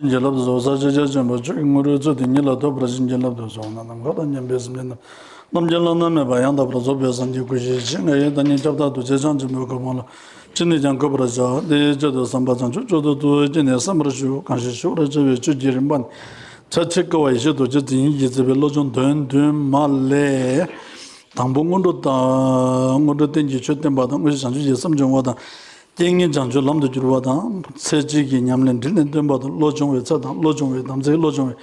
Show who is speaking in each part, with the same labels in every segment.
Speaker 1: བྱིན་གྱིས་བརླབ་ཏུ་གསོལ་བསགས་ཕྱག་རྒྱ་ཆེན་པོ་བཅུ་ཡི་སྔོན་རོལ་ཚུལ་དེ་ཉིད་ལ་ཐོད་པར་བྱིན་གྱིས་བརླབ་ཏུ་གསོལ་ན་ནམ་མཁའ་དང་མཉམ་པའི་སེམས་ཅན་རྣམས་རྣམ་རྒྱལ་བླ་ན་མེད་པ་ཡང་དག་པར་རྫོགས་པའི་སངས་རྒྱས་སྐུ་བཞི་ཆེ་ལྔ་ཡི་བདག་ཉིད་ཁྱབ་བདག་རྡོ་རྗེ་འཆང་ཆེན་པོའི་གོ་འཕང་ལ་ཅི་ནས་ཀྱང་འཁོད་པར་བྱ། དེའི་ཆེད་དུ་བསམ་པ་བྱང་ཆུབ་མཆོག་ཏུ་ཐུགས་བསྐྱེད་ནས་བསམ་པར་ཞུ། གང་ཞིག་ཞུ་བར་བྱ་བའི་ཆོས་ཀྱི་རིམ་པ་ནི། ཕྱག་ཕྱི་བཀའ་བ་ཡེ་ཤེས་རྡོ་རྗེ་འཛིན་ཡིད་ཀྱིས་མཛད་པའི་བློ་སྦྱོང་དོན་བདུན་མ་ལས། དང་པོ་སྔོན་འགྲོ་དང། སྔོན་འགྲོ་རྟེན་གྱི་ཆོས་བསྟན་པ་དང་དངོས་གཞི་བྱང་ཆུབ་ཀྱི་སེམས་སྦྱོང་བ་དང། ཏིང་ངེ་འཇང་སྤྱོད་ལམ་དུ་བསྒྱུར་བ་དང། ཚེ་གཅིག་གི་ཉམས་ལེན་དྲིལ་ནས་སྟོན་པ་དང་བློ་སྦྱོང་བའི་རྩལ་དང་བློ་སྦྱོང་བའི་དམ་ཚིག་བློ་སྦྱོང་བའི་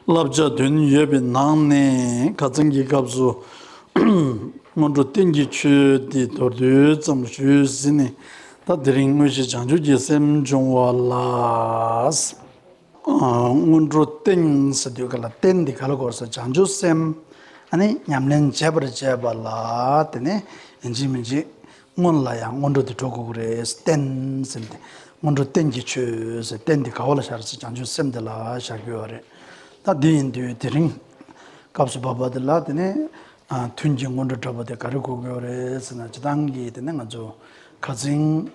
Speaker 1: བསླབ་བྱ་བདུན་ཡོད་པའི་ནང་ནས་ག་ཚང་གི་སྐབས་སུ། སྔོན་འགྲོ་བསྟན་གྱི་ཆོས་འདི་མདོར་བསྡུས་ཙམ་ཞུས་ཟིན་ནས་ད་དེ་རིང་དངོས་གཞི་བྱང་ཆུབ་ཀྱི་སེམས་སྦྱོང་བ་ལ། སྔོན་འགྲོ་སྟེང་ཟེར་དུས་ག་ལ་སྟེང་འདི་ག་ལ་གོ་སོ་བྱང་ཆུབ་སེམས་ནི་ཉམས་ལེན་བྱེད་པར་བྱེད་པ་ལ་དེ་ནི་ཡིན་གཅིག་མིན་གཅིག་སྔོན་ལ་ཡང་སྔོན་འགྲོ་འདི་འགྲོ་དགོས་ཀྱི་རེད་སྟེང་ཟེར་དེ་སྔོན་འགྲོ་སྟེང་གི་ཆོས་ཟེར་སྟེང་འདི་ག་བ་ལ་བཞག་རེད་བྱང་ཆུབ་སེམས་འདི་ལ་བཞག་རྒྱུ་ཡོད་རེད་ད་འདི་ཡིན་དུས་དེ་རིང་སྐབས་སུ་བབས་པ་འདི་ལ་དེ་ནི་ཐུན་གྱི་སྔོན་འགྲོ་འདྲ་པོ་འདི་ག་རེ་གོ་དགོས་རེད་ཟེར་ན་ཇི་ལྟང་གིས་དེ་ནི་ང་ཚོ་ཁ་ཚིང།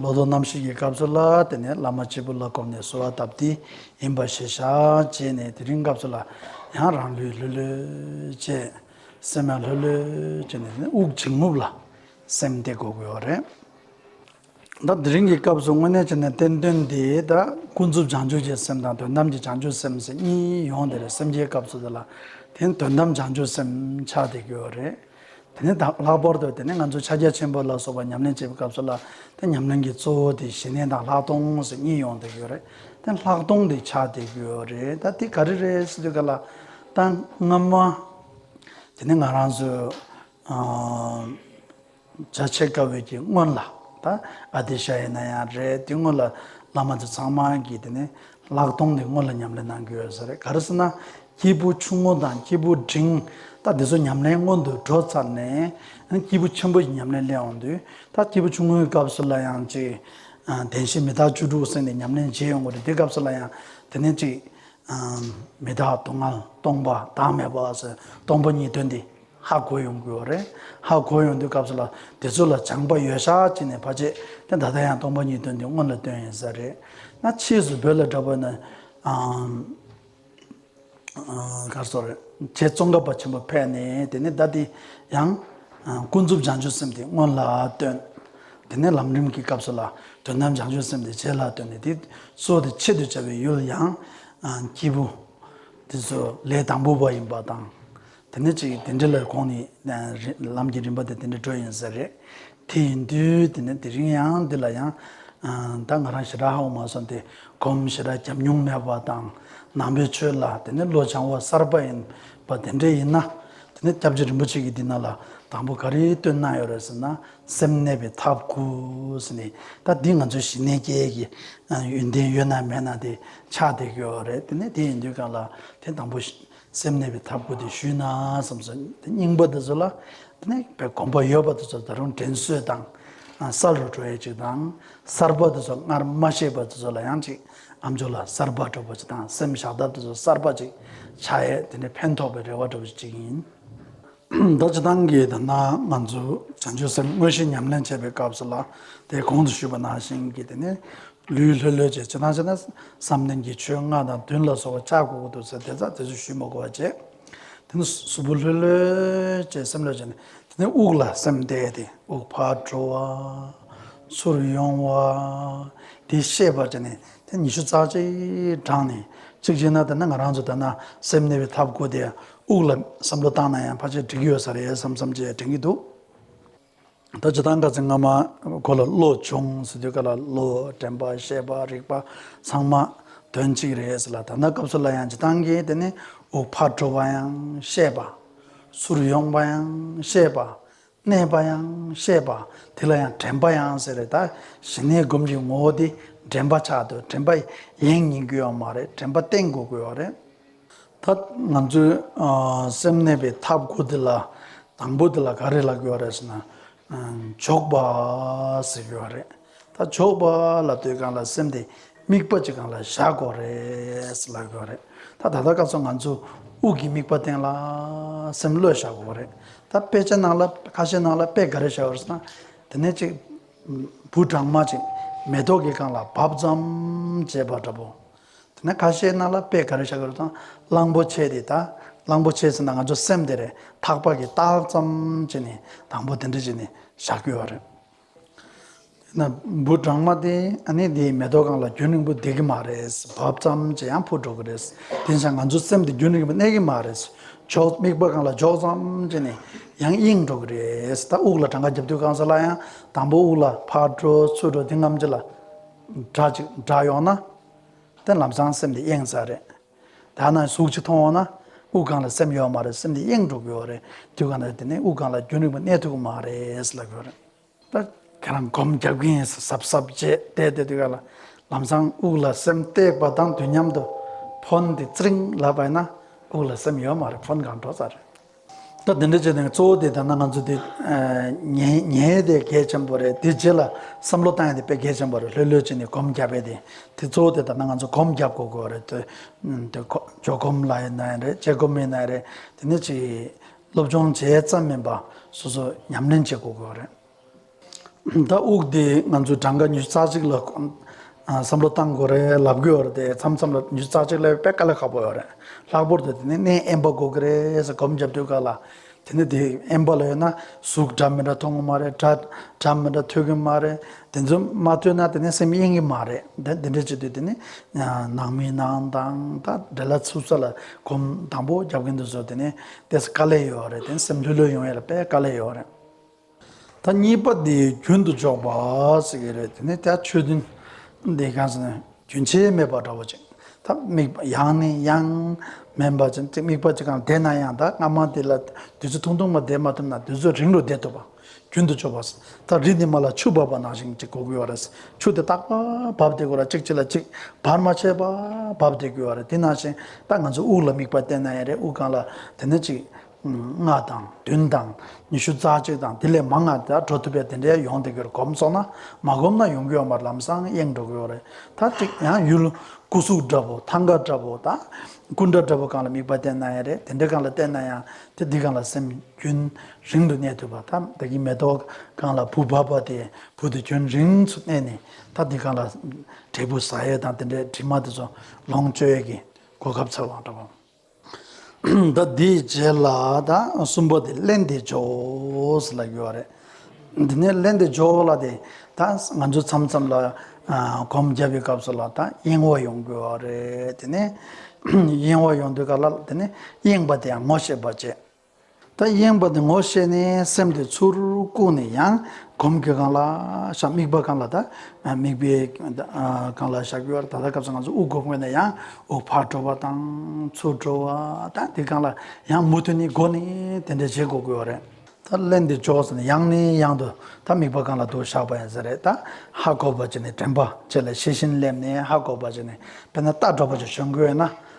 Speaker 1: ལོ་ཏོག་རྣམ་ཤེས་ཀྱི་སྐབས་སུ་ལ་དེ་ནས་བླ་མ་གཅིག་པུ་ལ་བསྒོམས་ནས་གསོལ་བ་བཏབ་དེ་ཡིན་པར་ཤེས་བྱ་བྱས་ནས་དེ་རིང་སྐབས་སུ་ལ་ཡང་རང་ལུས་ལྷོད་ལྷོད་བྱས། སེམས་ཡང་ལྷོད་ལྷོད་བྱས་ནས་དབུགས་འབྱིན་རྔུབ་ལ་སེམས་གཏད་དགོས་དགོས་བ་རེད། ད་དེ་རིང་གི་སྐབས་སུ་དངོས་གནས་བྱས་ནས་བསྟན་དོན་འདི་ད་ཀུན་རྫོབ་བྱང་ཆུབ་ཀྱི་སེམས་དང་དོན་དམ་གྱི་བྱང་ཆུབ་སེམས་གཉིས་ཡོང་དེ་རེད་སེམས་ཀྱི་སྐབས་སུ་དེ་ལ་དེ་ནི་དོན་དམ་བྱང་ཆུབ་སེམས་ཆགས་དེ་དགོས་བ་རེད། དེ་ནས་དང་ལྷག་པར་དུ་དེ་ནས་ང་ཚོས་ཕྱག་རྒྱ་ཆེན་པོ་ལ་སོགས་པ་ཉམས་ལེན་བྱེད་པའི་སྐབས་སུ་ལ་དེ་ཉམས་ལེན་གྱི་གཙོ་བོ་དེ་བཞི་ལྡན་དང་ལྷག་མཐོང་སོགས་གཉིས་ཡོང་བསྡད་ཡོད་རེད་དེ་ལྷག་མཐོང་དེ་ཆགས་བསྡད་ཡོད་རེད་ད་དེ་ག་རེ་རེད་ཟེར་དུས་ག་ལ་ད་སྔ་མ་དེ་ནས་ང་རང་ཚོས་རྒྱ་ཆེ་དཀའ་བའི་གྱི་སྔོན་ལ་ད་ཨ་ཏི་ཤ་ཡི་ན་ཡང་རེད་དེ་སྔོན་ལ་བླ་མ་དེ་ཚང་མ་གྱི་དེ་ནས་ལག་སྟོང་ནས་སྔོན་ལ་ཉམས་ལེན་གནང་རྒྱུ་ཡོད་ས་རེད་ག་རེ་ཟེར་ན་སྐྱེས་བུ་ཆུང་ངུ་དང་སྐྱེས་བུ་འབྲིང་ད་འདི་ཚོ་ཉམས་ལེན་སྔོན་དུ་འགྲོ་ཚར་ནས་སྐྱེས་བུ་ཆེན་པོ་ཡི་ཉམས་ལེན་སླེབས་འོང་དུས་ད་སྐྱེས་བུ་ཆུང་ངུའི་སྐབས་སུ་ལ་ཡང་ཅིག་བདེན་བཞི་མི་རྟག་བཅུ་དྲུག་གསན་ནས་ཉམས་ལེན་བྱེད་ཡོང་གི་རེད་དེ་སྐབས་སུ་ལ་ཡང་དེ་ནས་ཅིག་མི་རྟག་སྡུག་བསྔལ་སྟོང་པ་བདག་མེད་པ་ཟེར་སྟོང་པ་གཉིས་དོན་འདི། ཧ་གོ་ཡོང་དགོས་བ་རེད། ཧ་གོ་ཡོང་དུས་སྐབས་སུ་ལ་དེ་ཚོ་ལ་སྦྱང་པ་ཡོད་ཤག་ཅིག་ནས་བ་ཅེས་ཏེ་ད་ལྟ་ཡང་སྟོང་པ་ཉིད་དོན་དེ་སྔོན་ལ་སྟོན་ཡིན་ས་རེད། ན་ཕྱིས་སུ་བོད་ལ་དྲ་བོ་ན་གར་སོགས་རེད་ཁྱེད་ཙོང་ཁ་བ་ཆེན་པོ་ཕད་ནས་དེ་ནས་ད་དེ་ཡང་ཀུན་རྫོབ་སྦྱང་བྱོས་སེམས་དེ་སྔོན་ལ་སྟོན། དེ་ནས་ལམ་རིམ་གྱི་སྐབས་སུ་ལ་དོན་དམ་སྦྱང་བྱོས་སེམས་དེ་རྗེས་ལ་སྟོན་ནས་དེ་ཚོ་དེ་ཆེད་དུ་བྱ་བའི་ཡུལ་ཡང་སྐྱེས་བུ་དེ་ཚོ་ལས་དང་པོ་བ་ཡིན་པ་དང། དེ་ནས་ཅིག་དེ་འདྲི་ལ་ཁོང་ནི་ལམ་གྱི་རིམ་པ་དེ་དེ་འདྲི་བྲོ་ཡིན་ཟེར། དེ་ཡིན་དུས་དེ་ནས་དེ་རིང་ཡང་འདི་ལ་ཡང། ད་ང་རང་ཞེ་དྲག་ཧ་གོ་མ་སོང་སྟེ་གོམ་ཞེ་དྲག་བརྒྱབ་མྱོང་མེད་པ་དང་ནང་པའི་ཆོས་ལ་དེ་ནས་བློ་སྦྱང་བ་གསར་པ་ཡིན་པ་དེ་འདྲས་ཡིན་ན། དེ་ནས་སྐྱབས་རྗེ་རིན་པོ་ཆེ་གིས་འདི་ན་ལ་དང་པོ་ག་རེ་སྟོན་གནང་ཡོད་རེད་ཟེར་ན་སེམས་གནས་པའི་ཐབས་དགུ་ཟེར་ནས་ད་འདི་ང་ཚོའི་ཞི་གནས་རྒྱལ་གྱི་ཡོན་ཏན་ཡོད་ན་མེད་ན་དེ་ཆགས་བསྡད་ཀྱི་ཡོད་རེད་དེ་ནས་དེ་ཡིན་དུས་ག་ལ་དེ་དང་པོ། སེམས་གནས་པའི་ཐབས་དགུ་དེ་ཞུས་ན་བསམས་སོ། དེ་སྙིང་པོ་དེ་ཚོ་ལ་དེ་ནས་གོམས་པ་ཡོད་པ་དེ་ཚོ་ད་རུང་དྲན་གསོས་དང། གསར་རུ་འགྲོ་ཡས་ཅིག་དང། གསར་པ་དེ་ཚོ་སྔར་མ་ཤེས་པ་དེ་ཚོ་ལ་ཡང་ཅིག་ཨ་མཆོག་ལ་གསར་པ་སྒྲོག་པ་ཅིག་དང་སེམས་བཞག་ཐབས་དེ་ཚོ་གསར་པ་ཅིག་བྱ་ཡས་དེ་ནས་ཕན་ཐོགས་པའི་རེ་བ་སྒྲོག་པ་ཅིག་ཅིག་ཡིན། རྡོ་རྗེ་ཐང་གིས་ད་ནངས་ང་ཚོས་བྱང་ཆུབ་སེམས་དངོས་གཞི་ཉམས་ལེན་བྱེད་པའི་སྐབས་སུ་ལ་དེའི་གོང་དུ་ཞུས་པ་ནང་བཞིན་གྱི་དེ་ནི་ལུས་ལྷོད་ལྷོད་བྱེད་ཇི་ལྟར་བྱས་ན་བསམ་གཏན་གྱི་ཆོས་ལྔ་དང་བདུན་ལ་སོགས་པ་བཅའ་གོ་གོ་འདུག་ཟེར་དེ་ཚ་དེ་ཚོ་ཞུས་མ་གོ་བར་བྱས། དེ་ནི་གཟུགས་པོ་ལྷོད་ལྷོད་བྱས་སེམས་ལྷོད་བྱས་ནས་དེ་ནས་དབུགས་ལ་སེམས་གཏད་དེ་དབུགས་ཕར་འགྲོ་བ། ཚུར་ཡོང་བ། དེ་ཤེས་པར་བྱས་ནས་དེ་ཉི་ཤུ་རྩ་གཅིག་བགྲངས་ནས་གཅིག་བྱས་ན་ད་ནངས་ང་རང་ཚོས་ད་ནངས་སེམས་གནས་པའི་ཐབས་གོ་དེ་དབུགས་ལ་བསམ་བློ་བཏང་ན་ཡང་ཕར་ཆེར་འགྲིག་གི་ཡོད་ས་རེད་བསམ་བསམ་བྱས་དྲན་གྱི་འདུག་ད་ཇི་ལྟར་འདྲ་ཚེ་སྔ་མ་གོ་ལ་བློ་ཆུང་ཟེར་དུས་ག་ལ་བློ་དྲན་པ་ཤེས་པ་རིག་པ་ཚང་མ་དོན་གཅིག་རེད་ཟེར་ལ་ད་ལྟ་སྐབས་སུ་ལ་ཡང་ཇི་ལྟང་གིས་དེ་ནི་དབུགས་ཕར་འགྲོ་བ་ཡང་ཤེས་པ་ཟུར་ཡོང་བ་ཡང་ཤེས་པ་གནས་པ་ཡང་ཤེས་པ་དེ་ལ་ཡང་དྲན་པ་ཡང་ཟེར་རེད་ད་ཞི་གནས་སྒོམ་གྱི་ངོ་བོ་དེ་དྲན་པ་ཆགས་དུས་དྲན་པ་ཡེངས་ཉེན་དགོས་ཡ་མ་རེད་དྲན་པ་བརྟན་དགོས་དགོས་བ་རེད། ད་ང་ཚོའི་སེམས་གནས་པའི་ཐབས་དགུ་དེ་ལ་དང་པོ་དེ་ལ་ག་རེ་ལ་དགོས་བ་རེད་ཟེར་ན་འཇོག་པ་ཟེར་དགོས་བ་རེད། ད་ཆོག་པ་ལ་ལྟོས་གང་ལ་སེམས་དེ་དམིགས་པ་ཅིག་གང་ལ་བཞག་དགོས་རེད་ལབ་དགོས་རེད་ད་ད་ལྟ་སྐབས་སུ་ང་ཚོས་དབུགས་ཀྱི་དམིགས་པ་སྟེང་ལ་སེམས་བློས་བཞག་དགོས་རེད་ད་དཔེ་ཆ་ནང་ལ་ཁ་ཤས་ནང་ལ་དཔེ་ག་རེ་བཞག་ཡོད་ན་དེ་ནས་ཅིག་བུ་གྲང་མ་ཅིག་མེ་ཏོག་གི་སྒང་ལ་བབས་ཙམ་ཅེས་པ་འདྲ་པོ་དེ་ནས་ཁ་ཤས་ནང་ལ་དཔེ་ག་རེ་བཞག་ཡོད་ན་གླང་པོ་ཆེ་དེ་ད་གླང་པོ་ཆེ་ཟེར་ན་ང་ཚོ་སེམས་དེ་རེད་ཐག་པ་གི་ཏག་ཙམ་ཅིག་ནས་དང་པོ་དེ་འདྲ་ཅིག་ནས་བཞག་དགོས་རེད། ན་འབུ་སྦྲང་མ་དེ་ནི་དེའི་མེ་ཏོག་གང་ལ་རྒྱུན་རིང་པོ་བསྡད་ཀྱི་མ་རེད་བབ་ཙམ་གྱིས་ཡང་འཕུར་འགྲོ་གི་རེད། དེ་ཆ་ང་ཚོའི་སེམས་དེ་རྒྱུན་རིང་པོ་གནས་ཀྱི་མ་རེད། འཇོག་དམིགས་པ་གང་ལ་འཇོག་ཙམ་གྱིས་ནས་ཡང་གཡེང་འགྲོ་གི་རེད། ད་དབུགས་ལ་གྲངས་ཀ་རྒྱབ་དུས་རྐང་ས་ལ་ཡང་དང་པོ་དབུགས་ལ་ཕར་འགྲོ་ཚུར་འགྲོ་དེ་རྔམ་ཅིག་ལ། སྒྲ་ཅིག་བསྒྲགས་ཡོང་ན། དེ་ལམ་སང་སེམས་དེ་གཡེང་ས་རེད། ད་ནངས་གཟུགས་གཅིག་མཐོང་འོང་ན་དབུགས་ལྒང་ལ་སེམས་ཡོད་བ་མ་རེད་སེམས་དེ་གཡེངས་འགྲོ་གི་ཡོད་རེད་དུས་གང་ལ་དེ་ནས་དབུགས་ལྒང་ལ་རྒྱུན་རིང་བ་གནས་ཐུབ་ཀྱི་མ་རེད་ལབ་ཡོད་རེད། ད་ཁྱེད་རང་སྒོམ་རྒྱབ་ཀྱི་ཡིན་ཟབ་ཟབ་ཟབ་བྱས་བལྟས་བལྟས་དུས་གང་ལ་ལམ་སང་དབུགས་ལ་སེམས་བཏེགས་པ་དང་དུས་མཉམ་དུ་ཕོན་དེ་ཙིརིང་ལབ་པ་ཡིན་ན་དབུགས་ལ་སེམས་ཡོད་མ་རེད་ཕོན་གང་འགྲོ་ས་རེད། ད་དེ་འདྲ་བྱས་ནས་གཙོ་བོ་དེ་ད་ནང་ང་ཚོ་དེ་ཉན་ཡས་དེ་གལ་ཆེན་པོ་རེད་དེ་རྗེས་ལ་བསམ་བློ་བཏང་ཡས་དེ་དཔེ་གལ་ཆེན་པོ་རེད་ལྷོད་ལྷོད་བྱས་ནས་གོམ་བརྒྱབ་པས་དེ་དེ་གཙོ་བོ་དེ་ད་ནང་ང་ཚོ་གོམ་བརྒྱབ་དགོས་དགོས་རེད་དེ་ཇོ་གོམ་ལ་ཡིན་ན་ཡིན་རེད་ཇེ་གོམ་ཡིན་ན་ཡིན་རེད་དེ་ནས་ཅིག་སློབ་སྦྱོང་བྱས་ཙམ་མིན་པ་སོ་སོ་ཉམས་ལེན་བྱེད་དགོས་དགོས་རེད། ད་དབུགས་དེ་ང་ཚོའི་གྲངས་ཀ་ཉི་ཤུ་རྩ་གཅིག་ལ་བསམ་བློ་གཏང་དགོས་རེད་ལབ་དགོས་ཡོད་རེད་མཚམས་མཚམས་ལ་ཉི་ཤུ་རྩ་གཅིག་ལས་དཔེ་དཀའ་ལས་ཁག་པོ་ཡོད་རེད་ལྷག་པོར་དེ་ནི་གནས་ཨེན་པ་དགོས་ཀྱི་རེད་ཟེར་སྒོམ་རྒྱབ་དུས་ཀ་ལ་དེ་ནི་དེ་ཨེན་པ་ལ་ཡོད་ན་གཟུགས་འདྲ་མི་འདྲ་མཐོང་གི་མ་རེད་སྒྲ་འདྲ་མི་འདྲ་ཐོས་ཀྱི་མ་རེད་དེ་ཚོ་མ་ཐོས་ན་དེ་ནི་སེམས་གཡེང་གི་མ་རེད་དེ་འདྲ་བྱེད་དུས་དེ་ནི་ནང་མི་ནང་དང་ད་དྲེ་ལ་ཚུགས་ས་ལ་སྒོམ་དང་པོ་རྒྱབ་ཀྱི་འདུག་ཟེར་དེ་ནི་དེ་ས་དཀའ་ལས་ཡོད་རེད་དེ་ནི་སེམས་ལྷོད་ལྷོད་ཡོང་ཡ་ལ་དཔེ་དཀའ་ལས་ཡོད་རེད། ད་གཉིས་པ་དེ་རྒྱུན་དུ་འཇོག་པ་ཟེར་གྱི་རེད་དེ་ནས་ད་ཆོས་དོན་འདི་གང་ཟེར་ན་རྒྱུན་ཆད་མེད་པ་འདྲ་བོ་ཅིག་ད་དམིགས་པ་ཡང་ནས་ཡང་མིན་པ་ཅིག་དམིགས་པ་ཅིག་གམ་བདེ་ན་ཡང་ད་སྔ་མ་དེ་ལ་དུས་ཚོད་ཐུང་ཐུང་མ་བསྡད་མ་ཐུབ་ན་དུས་ཚོད་རིང་རུ་བསྡད་ཐུབ་པ་རྒྱུན་དུ་འཇོག་པ་ཟེར་ད་རི་དེ་མ་ལ་ཆུ་འབབ་པ་ནང་བཞིན་ཅིག་གོ་དགོས་བ་རེད་ཆུ་དེ་ཏག་པར་འབབ་བསྡད་དགོས་ར་གཅིག་གཅིག་ལ་གཅིག་བར་མ་ཆད་པར་འབབ་བསྡད་དགོས་བ་རེད་དེ་ནང་བཞིན་ད་ང་ཚོས་དབུགས་ལ་དམིགས་པ་བསྟན་ན་ཡང་རེད་དབུགས་གང་ལ་དེ་ནས་ཅིག། ལྔ་དང་བདུན་དང་ཉི་ཤུ་རྩ་གཅིག་དང་དེ་ལས་མང་ང་དག་འགྲོ་ཐུབ་པས་དེ་འདྲའི་ཡོང་སྡོད་རྒྱུར་གོམས་སོང་ན་མ་གོམས་ན་ཡོང་གི་ཡོང་པར་ལམ་སང་གཡེང་འགྲོ་གི་ཡོད་རེད་ད་ཅིག་ཡང་ཡུལ་སྐུ་གཟུགས་འདྲ་བོ་ཐང་ག་འདྲ་བོ་དང་སྐུ་འདྲ་འདྲ་བོ་གང་ལ་དམིགས་པ་བསྟན་ན་ཡང་རེད་དེ་འདྲ་གང་ལ་བསྟན་ན་ཡང་དེ་འདི་གང་ལ་སེམས་རྒྱུན་རིང་དུ་གནས་ཐུབ་པ་ད་བདག་གིས་མེ་ཏོག་གང་ལ་བུ་བབས་པ་དེ་བུ་དེ་རྒྱུན་རིང་སུ་གནས་ནས་ད་འདི་གང་ལ་འབྲས་བུ་ཟ་ཡས་དང་དེ་འདྲའི་དྲི་མ་དེ་ཚོ་ལོངས་སྤྱོད་ཀྱི་གོ་སྐབས་ཚོད་དབང་འདྲ་བོ། འདི་དེའི་རྗེས་ལ་དང་གསུམ་པོ་དེ་གླན་དེ་ཇོའོས་ལ་གྱུར་བ་རེད། འདི་ནས་གླན་དེ་ཇོ་ལ་དེ་དང་ང་ཚོ་མཚམས་མཚམས་ལ་གོམ་རྒྱབ་པའི་སྐབས་སུ་ལ་དང་གཡེང་བ་ཡོང་དགོས་བ་རེད་དེ་ནས་གཡེང་བ་ཡོང་དུས་ག་ལ་དེ་ནས་གཡེང་བ་དེ་ཡང་ངོ་ཤེས་པ་བྱེད། ད་གཡེངས་པ་དེ་ངོ་ཤེས་ནས་སེམས་དེ་ཚུར་བཀུག་ནས་ཡང་གོམས་གྱི་གང་ལགས་ཤག་དམིགས་པ་གང་ལ་ད་དམིགས་པའི་གང་ལགས་ཤག་གི་བར་ད་ལྟ་སྐབས་སུ་ང་ཚོ་དབུགས་སྒོ་བརྔོས་ནས་ཡང་དབུགས་ཕར་འགྲོ་བ་དང་ཚུར་འགྲོ་བ་དང་དེ་གང་ལ་ཡང་མུ་མཐུད་ནས་སྒོ་ནས་དེ་འདྲ་བྱེད་དགོས་དགོས་བ་རེད། ད་གླེང་འདི་བཅོག་ཟེར་ནས་ཡང་ནས་ཡང་དུ་ད་དམིགས་པ་གང་ལ་དུ་ཤག་པ་ཡིན་ཟེར་རེད་ད་ཧ་གོ་བ་བྱས་ནས་དྲན་པ་བཅས་ལ་ཤེས་བཞིན་སླེབས་ནས་ཧ་གོ་བ་བྱས་ནས་དཔེར་ན་རྟ་འདྲ་བ་ཅིག་བྱོན་དགོས་ན་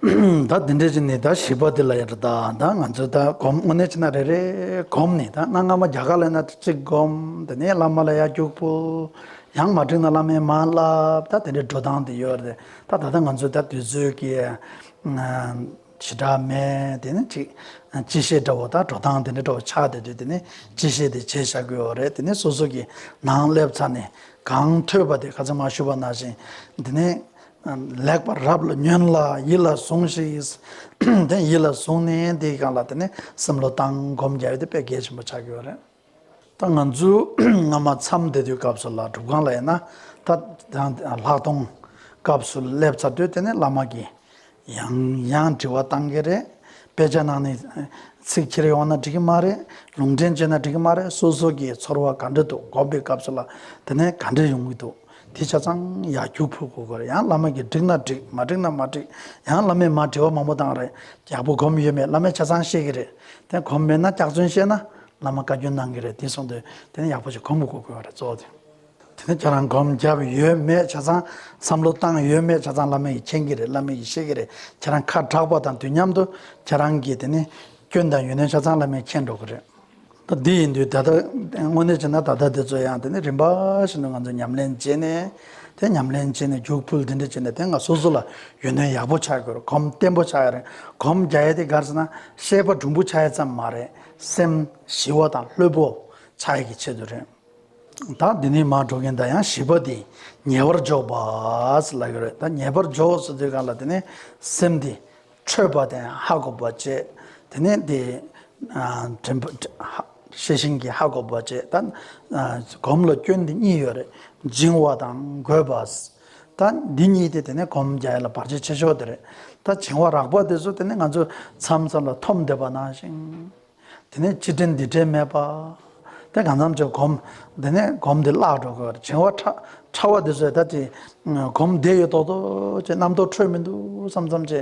Speaker 1: ད་འདི་འདྲས་ཀྱི་ནི་ད་བྱིས་པ་དེ་ལ་ཡང་ད་ད་ང་ཚོས་ད་གོམས་དངོས་གནས་ཅི་ན་རེ་རེ་གོམས་ནས་ད་གནའ་སྔ་མོ་རྒྱ་གར་ལ་ཡིན་ན་གཅིག་གོམས་དེ་ནས་བླ་མ་ལ་ཡར་རྒྱུགས་པོ། ཡང་མ་འགྲིག་ན་བླ་མའི་མ་བསླབ་ད་དེ་འདྲའི་འགྲོ་སྟངས་དེ་ཡོད་རེད་ད་ད་ལྟ་ང་ཚོས་ད་དུས་ཚོད་ཀྱི་བྱེ་བྲག་མེད་དེ་ནི་གཅིག་སྤྱི་བཤད་འདྲ་བོ་ད་འགྲོ་སྟངས་དེ་འདྲ་འདྲ་བོ་ཆགས་བསྡད་དུས་དེ་ནི་སྤྱི་བཤད་དེ་བྱས་བཞག་གི་ཡོད་རེད་དེ་ནི་སོ་སོ་གྱི་ནང་སླེབས་ཚར་ནས་གང་ཐོས་པ་དེ་ག་ཚོད་མ་ཞུ་བ་ན་བཞིན་དེ་ནི། ལེགས་པར་རབ་ལ་ཉོན་ལ་ཡིད་ལ་ཟུང་ཞིག། དེ་ཡིད་ལ་བཟུང་ནས་དེའི་གང་ལ་དེ་ནས་སེམས་བློ་བཏང་སྒོམ་རྒྱ་ཡོད་དེ་དཔེ་གལ་ཆེན་པོ་ཆགས་ཀྱི་ཡོད་རེད། ད་ང་ཚོས་སྔ་མ་མཚམས་འདེད་དུས་སྐབས་སུ་ལ་སྒྲུབ་ཁང་ལ་ཡིན་ན་ད་ལྷག་མཐོང་སྐབས་སུ་སླེབས་ཚར་དུས་དེ་ནས་བླ་མ་གིས་ཡང་ཡང་དྲི་བ་བཏང་གི་རེད། དཔེ་ཆ་ནང་ནས་ཚིག་འཁྱེར་ཡོང་ན་འགྲིག་གི་མ་རེད་ལུང་འདྲེན་བྱས་ན་འགྲིག་གི་མ་རེད་སོ་སོ་གི་ཚོར་བ་ག་འདྲ་འདུག་སྒོམ་པའི་སྐབས་སུ་ལ་དེ་ནས་ག་འདྲ་ཡོང་གི་འདུག་དེ་ཆ་ཚང་ཡར་རྒྱུག་ཕུད་དགོས་གི་རེད་ཡང་བླ་མ་གིས་འགྲིག་ན་འགྲིག་མ་འགྲིག་ན་མ་འགྲིག་ཡང་བླ་མས་མ་འབྲེལ་བ་མང་པོ་བཏང་རེད་རྒྱལ་པོ་སྒོམ་ཡོད་མེད་བླ་མས་ཆ་ཚང་ཤེས་གི་རེད་དེ་སྒོམ་མེད་ན་སྐྱག་རྫུན་བཤད་ན་བླ་མ་བཀའ་བཀྱོན་གནང་གི་རེད་དེ་གསུངས་དུས་དེ་ནས་ཡག་པོ་ཞིག་སྒོམ་དགོས་གི་རེད་གཙོ་བོ་དེ་དེ་ནས་ཁྱེད་རང་སྒོམ་བརྒྱབ་ཡོད་མེད་ཆ་ཚང་བསམ་བློ་བཏང་ཡོད་མེད་ཆ་ཚང་བླ་མས་ཀྱིས་མཁྱེན་གི་རེད་བླ་མས་ཀྱིས་ཤེས་གི་རེད་ཁྱེད་རང་ཁ་གྲགས་པ་དང་དུས་མཉམ་དུ་ཁྱེད་རང་གི་དེ་ནས་སྐྱོན་དང་ཡོན་ཏན་ཆ་ཚང་བླ་མས་མཁྱེན་འགྲོ་གི་རེད། ད་འདི་ཡིན་དུས་ད་ལྟ་དངོས་གནས་བྱས་ན་ད་ལྟ་འདི་ཚོ་ཡང་དེ་ནས་རིམ་པ་བཞིན་དུ་ང་ཚོ་ཉམས་ལེན་བྱས་ནས་དེ་ཉམས་ལེན་བྱས་ནས་རྒྱུགས་ཕུལ་འདི་འདྲ་བྱས་ནས་དེ་སྔ་སོ་སོ་ལ་ཡོན་ཏན་ཡག་པོ་ཆགས་དགོས་གོམས་བརྟན་པོ་ཆགས་ཡོད་རེད་གོམས་རྒྱ་ཡས་དེ་གར་སོང་ན་ཤེས་པ་གྲུང་པོ་ཆགས་ཡས་ཙམ་མ་རེད་སེམས་ཞི་བ་དང་ལྷོད་པོ་ཆགས་ཡས་ཀྱི་ཆེད་དུ་རེད་ད་འདི་ནས་མར་འགྲོ་མཁན་དང་ཡང་བྱིས་པ་དེ་ཉེས་པར་འཇོག་པ་ལ་ཡོད་རེད་ད་ཉེས་པར་འཇོག་སོ་དེ་ག་ལ་དེ་ནས་སེམས་དེ་ཁྲོས་པ་དང་ཧ་གོ་བ་བཅས་དེ་ནས་དེ་ཤེས་བཞིན་གྱི་ཧ་གོ་བ་བཅས་དང། གོམས་ལ་སྐྱོན་འདི་གཉིས་ཡོད་རེད་སྦྱིན་བ་དང་དགོས་པ་དང་འདི་གཉིས་དེ་དེ་ནས་གོམས་རྒྱ་ཡོད་ལ་བར་ཆད་ཆེ་ཤོས་དེ་རེད་ད་བྱིང་བ་རགས་པ་དེ་ཚོ་དེ་ནས་ང་ཚོས་མཚམས་མཚམས་ལ་འཐོམ་བསྡད་པ་ནང་བཞིན། དེ་ནས་སྤྱི་དྲིལ་འདི་དྲིལ་སྨྲས་པ། དེ་གང་འཚམ་བྱས་བསྒོམ། དེ་ནས་སྒོམ་འདི་བརླག་འགྲོ་གི་བྱིང་བ་ཕྲ་བ་འདི་ཟོས་ད་ཅི་སྒོམ་བདེ་ཡོད་དོགས་དོགས་བྱས་རྣམ་རྟོག་འཕྲོས་མི་འདུག་བསམ་བསམ་བྱས་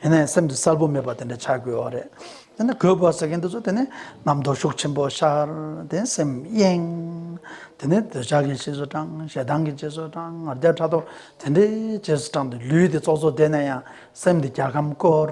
Speaker 1: ཡིན་ནའི་སེམས་འདི་གསལ་པོ་མེད་པ་དེ་འདྲ་ཆགས་དགོས་བ་རེད་དེ་ནས་དགོས་པ་ཟེར་མཁན་འདི་ཚོ་དེ་ནས་རྣམ་རྟོག་ཤུགས་ཆེན་པོ་ཤར་དེ་ནས་སེམས་གཡེང། དེ་ནས་འདོད་ཆགས་ཀྱི་རྗེས་སུ་འབྲང་ཞེ་སྡང་གི་རྗེས་སུ་འབྲང་ངར་རྒྱ་ཕྲག་དོག་དེ་འདྲའི་རྗེས་སུ་འབྲང་སྟེ་ལུས་འདི་ཙོག་ཙོག་བསྡད་ན་ཡང་སེམས་འདི་རྒྱ་ཁམ་སྐོར།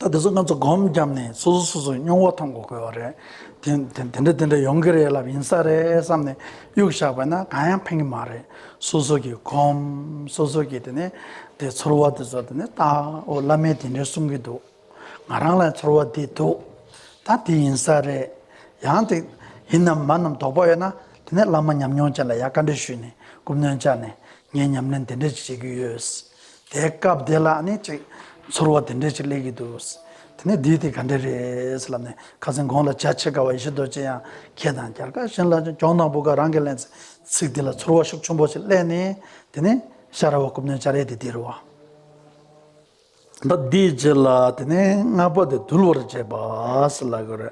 Speaker 1: ད་དེ་ཚོ་ང་ཚོ་སྒོམ་བརྒྱབ་ནས་སོ་སོ་སོ་སོའི་སྨྱུང་བ་ཐོང་གོ་དགོས་བ་རེད། དེ་འདྲ་དེ་འདྲ་ཡོང་གི་རེད་ལབ་ཡིན་ས་རེད་བསམ་ནས་གཡུག་བཞག་པ་ན་གང་ཡང་ཕན་གི་མ་རེད། སོ་སོ་གིས་སྒོམ་སོ་སོ་གིས་དེ་ནས་དེ་ཚོར་བ་དེ་ཚོ་དེ་ནས་བརྟག་ཨོ་བླ་མས་དེ་འདྲ་གསུང་གི་འདུག་ང་རང་ལ་ཚོར་བ་འདི་འདུག་ད་དེ་ཡིན་ས་རེད། ཡང་དེ་ཡིན་ནམ་མ་ནམ་དོགས་པ་ཡོད་ན་དེ་ནས་བླ་མ་ཉམས་མྱོང་ཅན་ལ་ཡར་བཀའ་འདྲི་ཞུས་ནས་སྐུ་མདུན་བཅར་ནས་ངས་ཉམས་ལེན་དེ་འདྲ་ཞིག་བྱེད་ཀྱི་ཡོད། དེ་སྐབས་དེ་ལ་ནི་ཅིག་ཚོར་བ་དེ་འདྲས་ཅིག་སླེབས་ཀྱི་འདུག། དེ་ནས་འདི་དེ་ག་འདྲས་རེད་ལབ་ནས་ཁ་ཟས་འགོང་ལ་བྱ་ཆེ་དཀའ་བ་ཡེ་ཤེས་རྡོ་རྗེ་ཡང་ཁྱེད་དང་རྒྱལ་ཁ་གཞན་ལ་གྱོང་དང་བུ་ག་རང་གིས་ལན་ཚེ་ཚིག་འདི་ལ་ཚོར་བ་ཤུགས་ཆུན་པོ་ཞིག་སླེབས་ནས་དེ་ནས་ཤ་ར་བ་རྐུབ་སྣོན་བྱ་རེད་དེ་དེ་རུ་བ། ད་འདིའི་རྗེས་ལ་དེ་ནས་སྔ་པོ་དེ་དུལ་བར་བྱས་པ་ལ་གོ་རེ།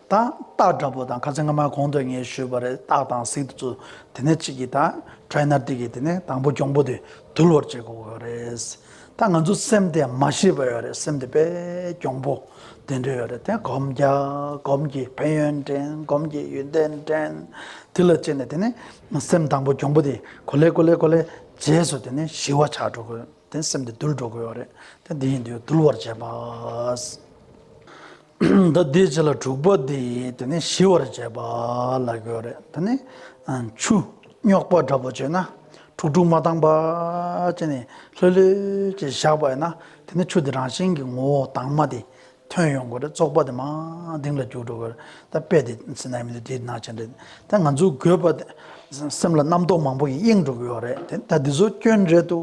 Speaker 1: དང། སྟག་འདྲ་པོ་དང་ཁ་ཚེ་སྔ་མ་གོང་དུ་ངས་ཞུས་པ་རེད་སྟག་དང་གཟིག་ཚུ་དེ་ནས་གཅིག་གིས་དང་ཁྲའི་ནར་ཏིག་གིས་དེ་ནས་དང་པོ་གྱོང་པོ་དེ་དུལ་བར་བྱེད་དགོས་གི་རེད། ད་ང་ཚོ་སེམས་དེ་མ་ཤེས་པ་ཡོད་རེད་སེམས་དེ་པས་གྱོང་པོ་དེ་འདྲ་ཡོད་རེད་དེ་སྒོམ་རྒྱ་སྒོམ་གྱི་ཕན་ཡོན་དྲན་སྒོམ་གྱི་ཡོན་ཏན་དྲན་དེ་ལ་སྤྱད་ནས་དེ་ནས་སེམས་དང་པོ་གྱོང་པོ་དེ་གོ་ལེ་གོ་ལེ་གོ་ལེ་རྗེས་སུ་དེ་ནས་ཞི་བ་ཆགས་འགྲོ་དགོས། དེ་སེམས་དེ་དུལ་འགྲོ་དགོས་པ་རེད་དེ་དེ་ཡིན་དུས་དུལ་བར་བྱས་པ། འདི་དེའི་རྗེས་ལ་དྲུག་པ་དེ་ཡིན་དེ་ནི་ཞི་བར་བྱས་པ་ལ་དགོས་རེད་དེ་ནི། ཆུ་རྙོག་པ་འདྲ་པོ་བྱས་ན་དྲུག་དྲུག་མ་དང་བ་ཅན་ནི་ལྷོད་ལྷོད་ཀྱིས་བཞག་པ་ཡིན་ན་དེ་ནི་ཆུ་དེ་རང་བཞིན་གྱི་ངོ་བོ་དྭངས་མ་དེ་ཐོན་ཡོང་དགོས་རེད་བཙོག་པ་དེ་མང་སྡིངས་ལ་རྒྱུག་འགྲོ་དགོས་རེད་ད་དཔེ་དེ་ཚེ་ན་མི་འདུག་དེ་ནག་ཅན་རེད་ད་ང་ཚོའི་དགོས་པ་དེ་སེམས་ལ་རྣམ་རྟོག་མང་པོ་ཡིས་གཡེངས་འགྲོ་གི་ཡོད་རེད་དེ་ད་འདི་ཚོ་སྐྱོན་རེད་དོ་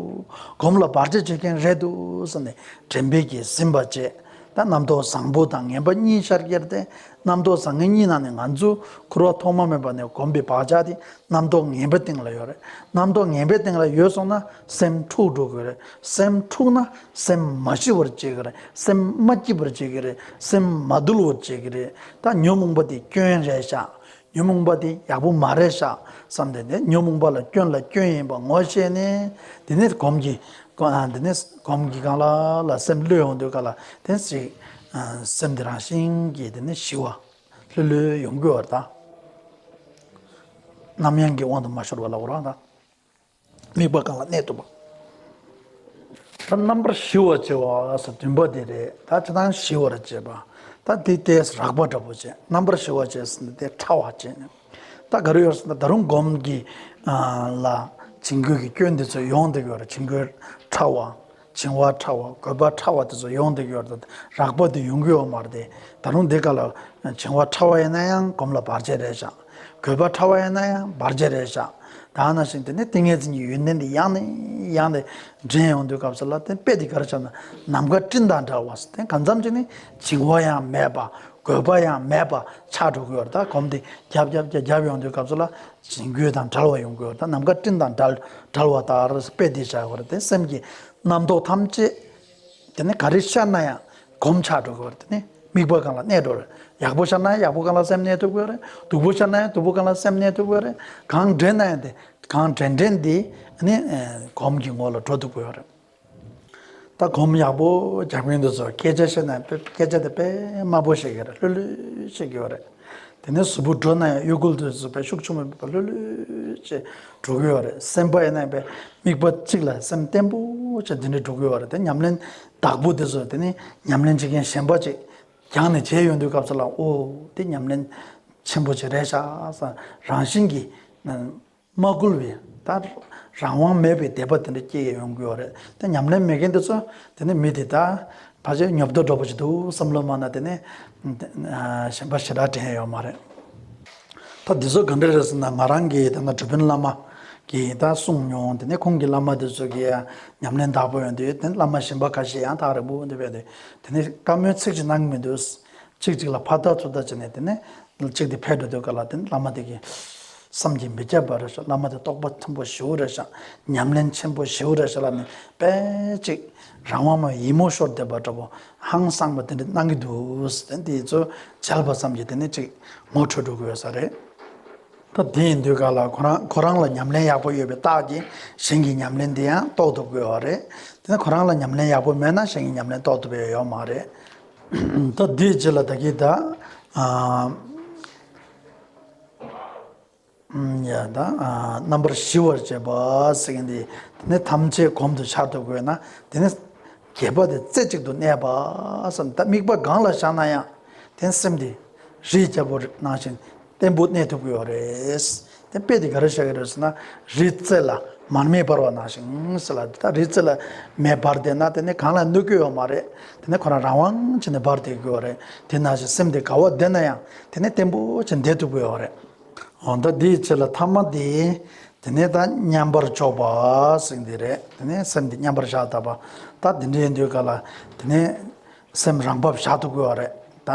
Speaker 1: གོམས་ལ་བར་ཆད་བྱེད་མཁན་རེད་དོ་ཟེར་ནས་དྲན་འབེབས་ཀྱིས་ཟིན་པ་བཅས་ད་རྣམ་རྟོག་བཟང་པོ་དང་ངན་པ་གཉིས་ཤར་གྱི་རེད་དེ་རྣམ་རྟོག་བཟང་ངན་གཉིས་ནང་ནས་ང་ཚོས་ཁུར་བ་ཐོག་མ་མེད་པ་ནས་གོམས་པའི་བག་ཆགས་དེ་རྣམ་རྟོག་ངན་པའི་སྟེང་ལ་ཡོད་རེད་རྣམ་རྟོག་ངན་པའི་སྟེང་ལ་ཡོད་སོང་ན་སེམས་འཁྲུག་འགྲོ་དགོས་རེད་སེམས་འཁྲུགས་ན་སེམས་མ་ཞི་བར་བྱེད་ཀྱི་རེད་སེམས་མ་སྐྱིད་པར་བྱེད་ཀྱི་རེད་སེམས་མ་དུལ་བར་བྱེད་ཀྱི་རེད་ད་ཉོན་མོངས་པ་དེ་སྐྱོན་རེད་ཤག་ཉོན་མོངས་པ་དེ་ཡག་པོ་མ་རེད་ཤག་བསམ་སྟེ་དེ་ཉོན་མོངས་པ་ལ་སྐྱོན་ལ་སྐྱོན་ཡིན་པ་ངོ་ཤེས་ནས་དེ་ནས་གོམས་གྱི་དེ་ནས་གོམས་གྱི་གང་ལ་ལ་སེམས་བློས་ཡོང་འདོད་ག་ལ་དེ་ཞིག་སེམས་དེ་རང་བཞིན་གྱིས་དེ་ནས་ཞི་བ་ལྷོད་ལྷོད་ཡོང་དགོས་བར་ད་ནམ་ཡང་གི་དབང་དུ་མ་ཤོར་བ་ལ་འོ་རང་ད། དམིགས་པ་གང་ལ་གནས་ཐུབ་བམ། ད་རྣམ་པར་ཞི་བར་བྱེད་བ་སོགས་བདུན་པོ་དེ་རེད་ད་ཇི་ལྟར་ཞི་བར་བྱེད་པ། ད་དེ་དེས་རགས་པ་འདྲ་པོ་བྱེད་རྣམ་པར་ཞི་བར་བྱས་ཟིན་ན་དེས་ཕྲ་བ་བྱེད་ནས། ད་ག་རེ་ཡོད་ཟེར་ན་ད་རུང་སྒོམ་གྱི་ལ་བྱིང་རྒོད་ཀྱི་སྐྱོན་འདི་ཚོ་ཡོང་དེ་གོ་རེ་བྱིང་རྒོད་ཕྲ་བ། བྱིང་བ་
Speaker 2: ཕྲ་བ་རྒོད་པ་ཕྲ་བ་དེ་ཚོ་ཡོང་དུ་ཡོད་དོ་རགས་པ་དེ་ཡོང་གི་ཡོད་མ་རེད་ད་རུང་འདི་ག་ལ་བྱིང་བ་ཕྲ་བ་ཡིན་ན་ཡང་གོམ་ལ་བར་ཆད་རེད་བཞག་རྒོད་པ་ཕྲ་བ་ཡིན་ན་ཡང་བར་ཆད་རེད་བཞག་ད་ནང་བཞིན་དེ་ནས་ཏིང་ངེ་འཛིན་གྱི་ཡོན་ཏན་དེ་ཡང་ནས་ཡང་ནས་འདྲེན་ཡོང་དུས་སྐབས་སུ་ལ་དེ་དཔེ་དེ་ག་རེ་བྱ་ན་ནམ་མཁའ་སྤྲིན་དང་འདྲ་བ་དེ་ག་མཚམས་ཅིག་ནས་བྱིང་བ་ཡང་མེད་པ་རྒོད་པ་ཡང་མེད་པ་ཆགས་འགྲོ་གི་ཡོད་རེད་ད་གོམ་དེ་རྒྱབ་རྒྱབ་རྒྱབ་རྒྱབ་ཡོང་དུས་སྐབས་སུ་ལ། བྱིང་རྒོད་དང་བྲལ་བ་ཡོང་དགོས་པ་དང་ནམ་མཁའ་སྤྲིན་དང་བྲལ་བ་ལྟར་དཔེ་དེ་བྱ་དགོས་པ་དེ་སེམས་ཀྱི་རྣམ་རྟོག་ཐམས་ཅད་དེ་ནི་ག་རེ་ཤར་ན་ཡང་གོམས་ཆག་འགྲོ་དགོས་པ་དེ་ནི་དམིགས་པ་གང་ལ་གནས་འགྲོ་རེད་ཡག་པོ་ཤར་ན་ཡང་ཡག་པོ་གང་ལ་སེམས་གནས་ཐུབ་དགོས་རེད་སྡུག་པོ་ཤར་ན་ཡང་སྡུག་པོ་གང་ལ་སེམས་གནས་ཐུབ་དགོས་རེད་གང་འདྲེན་ན་ཡང་དེ་གང་འདྲེན་འདྲེན་དེ་གོམས་ཀྱི་ངོ་ལ་འགྲོ་ཐུབ་དགོས་རེད། ལྟ་སྒོམ་ཡག་པོ་རྒྱག་མཁན་དེ་ཚོར་སྐད་ཆ་བཤད་ན་སྐད་ཆ་དེ་དཔེ་དམའ་པོ་བཤད་ཀྱི་རེད་ལྷོད་ལྷོད་བཤད་ཀྱི་ཡོད་རེད། དེ་ནས་གཟུ་བོ་འགྲོ་ན་ཡང་གཡོ་འགུལ་དེ་ཚོ་བེད་ཤུགས་ཆུང་མོད་པ་ལྷོད་ལྷོད་བྱས་འགྲོ་གི་ཡོད་རེད་སེམས་པ་ཡིན་ན་ཡིན་པའི་དམིགས་པ་གཅིག་ལ་སེམས་བརྟན་པོ་བྱས་དེ་འདྲས་འགྲོ་གི་ཡོད་རེད་དེ་ཉམས་ལེན་བདག་པོ་དེ་ཚོ་དེ་ནི་ཉམས་ལེན་བྱེད་མཁན་གཞན་པ་ཅིག་རྒྱང་ནས་བྱས་ཡོང་དུས་སྐབས་སུ་ལ་འོ་དེ་ཉམས་ལེན་ཆེན་པོ་ཅིག་རེད་ཤག་སེ་རང་བཞིན་གྱིས། མ་བསྐུལ་བས་ད་རང་དབང་མེད་པའི་དད་པ་དེ་འདྲ་སྐྱེ་ཡི་ཡོང་གི་ཡོད་རེད་དེ་ཉམས་ལེན་མེད་མཁན་དེ་ཚོ་དེ་ནི་མི་དེ་དག་ཕལ་ཆེར་ཉོབ་ཏོ་འགྲོ་པོ་ཞིག་འདུག་བསམ་བློ་སྨྲ་ན་དེ་ནི་གཞན་པ་ཞེ་དྲག་དྲན་ཡས་ཡོད་མ་རེད། ད་འདི་ཚོ་ག་འདྲ་རེད་ཟེར་ན་ང་རང་གི་ད་ནང་གྲུ་དཔོན་བླ་མ་གིས་ད་གསུངས་མྱོང་དེ་ནི་ཁོང་གི་བླ་མ་དེ་ཚོ་གི་ཉམས་ལེན་དག་པོ་ཡོད་འདུག་དེ་ནི་བླ་མ་གཞན་པ་ཁ་ཤས་ཡང་དག་རེད་འབུག་འདི་བས་འདུག་དེ་ནི་བཀའ་མོལ་ཚིག་གཅིག་གནང་གི་མི་འདུག་གཅིག་གཅིག་ལ་ཕར་ལྟ་ཚུར་ལྟ་བྱས་ནས་དེ་ནི་གཅིག་དེ་ཕེབས་འགྲོ་འདོད་ག་ལ་དེ་ནི་བླ་མ་དེ་གི། བསམ་གྱིས་མི་ཁྱབ་པ་རེ་ཞིག་བླ་མ་དེ་རྟོགས་པ་ཆེན་པོ་བཞི་བོ་རེ་ཞིག་ཉམས་ལེན་ཆེན་པོ་བཞི་བོ་རེ་ཞིག་ལ་ནི་དཔེ་ཅིག་རང་དབང་མོ་ཡིད་མོ་ཤོར་འདེབས་པ་འདྲ་བོ་ཧང་བསངས་པ་དེ་འདྲ་སྣང་གི་འདུག་དེ་འདི་ཚོ་མཇལ་བ་ཙམ་གྱིས་དེ་ནི་ཅིག་ངོ་འཕྲོད་འགྲོ་གི་ཡོད་ས་རེད། སྐབས་དེ་ཡིན་དུས་ག་ལ་ཁོ་རང་ཁོ་རང་ལ་ཉམས་ལེན་ཡག་པོ་ཡོད་པའི་རྟགས་ཀྱིས་གཞན་གྱི་ཉམས་ལེན་དེ་ཡང་རྟོགས་ཐུབ་དགོས་བ་རེད་དེ་ཁོ་རང་ལ་ཉམས་ལེན་ཡག་པོ་མེད་ན་གཞན་གྱི་ཉམས་ལེན་རྟོགས་ཐུབ་ཡ་ཡོད་མ་རེད། ད་འདིའི་རྗེས་ལ་ད་གིས་ད། རྣམ་པར་ཞི་བར་བྱེད་པ་ཟེར་གྱི་འདི་ནི་ཐམས་ཅད་གོམས་དུ་འཆར་དུ་དགོས་ན་དེ་ནི་གྱེས་པ་དེ་རྩེ་གཅིག་ཏུ་གནས་པ་བསམ་ད་དམིགས་པ་གང་ལ་བཞག་ན་ཡང་དེ་ནི་སེམས་དེ་རིའི་རྒྱལ་པོ་ནང་བཞིན་བརྟན་པོ་གནས་ཐུབ་ཀྱི་ཡོད་རེད། དེ་དཔེ་དེ་ག་རེ་བཞག་གི་རེད་ཟེར་ན་རིའི་རྩེ་ལ་མར་མེ་འབར་བ་ནང་བཞིན་ཟེར་ལ་ད་རིའི་རྩེ་ལ་མེ་འབར་བསྡད་ན་དེ་ནི་གང་ལ་གནོད་ཀྱི་ཡོད་མ་རེད་དེ་ནི་ཁོ་རང་རང་དབང་ཆེན་དུ་འབར་བསྡད་ཀྱི་ཡོད་རེད་དེ་ནང་བཞིན་སེམས་དེ་ག་བ་བསྡད་ན་ཡང་དེ་ནས་བརྟན་པོ་ཆེ་འདེད་དུ་བོས་བ་རེད། འོ་ད་འདིའི་ཚེ་ལ་ཐ་མ་དེ་དེ་ནས་ད་མཉམ་པར་འཇོག་པ་སེམས་དེ་རེད་དེ་ནས་སེམས་དེ་མཉམ་པར་བཞག་ད་པ་ད་དེ་འདྲའི་འདོད་ག་ལ་དེ་ནས་སེམས་རང་བབས་བཞག་ཏུ་དགོས་བ་རེད་ད།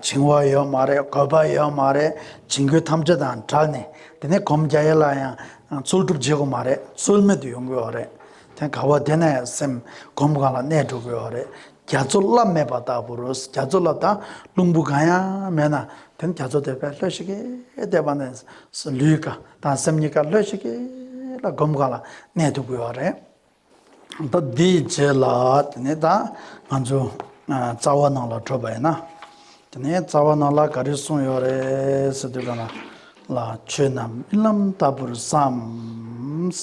Speaker 2: བྱིང་བ་ཡོད་མ་རེད་གོད་པ་ཡོད་མ་རེད་བྱིང་རྒོད་ཐམས་ཅད་དང་བྲལ་ནས་དེ་ནས་གོམས་རྒྱ་ཡལ་ལ་ཡང་རྩོལ་སྒྲུབ་བྱེད་དགོས་མ་རེད་རྩོལ་མེད་དུ་ཡོང་དགོས་བ་རེད་དེ་ག་བ་དེ་ནས་སེམས་གོམས་གང་ལ་གནས་འགྲོ་དགོས་བ་རེད། རྒྱ་མཚོ་རླབས་མེད་པ་ལྟ་བུར་རྒྱ་མཚོ་རླབས་དང་རླུང་བུ་གང་ཡང་མེད་ན་དེ་ནི་རྒྱ་མཚོ་དེར་བས་ལྷོད་ཤིག་གེ་དེད་པ་ནི་ལུས་ཀ་དང་སེམས་གཉིས་ཀ་ལྷོད་ཤིག་གེ་ལ་སྒོམ་གང་ལ་གནད་དུ་འབུལ་བ་རེད། ད་དེའི་རྗེས་ལ་དེ་ནས་ད་ང་ཚོ་རྩ་བ་ནང་ལ་འཕྲོད་པ་ཡིན་ན། དེ་ནས་རྩ་བ་ནང་ལ་ག་རེ་གསུངས་ཡོད་རེད་ཟེར་དུས་གང་ལ་ཆོས་རྣམས་རྨི་ལམ་ལྟ་བུར་བསམས།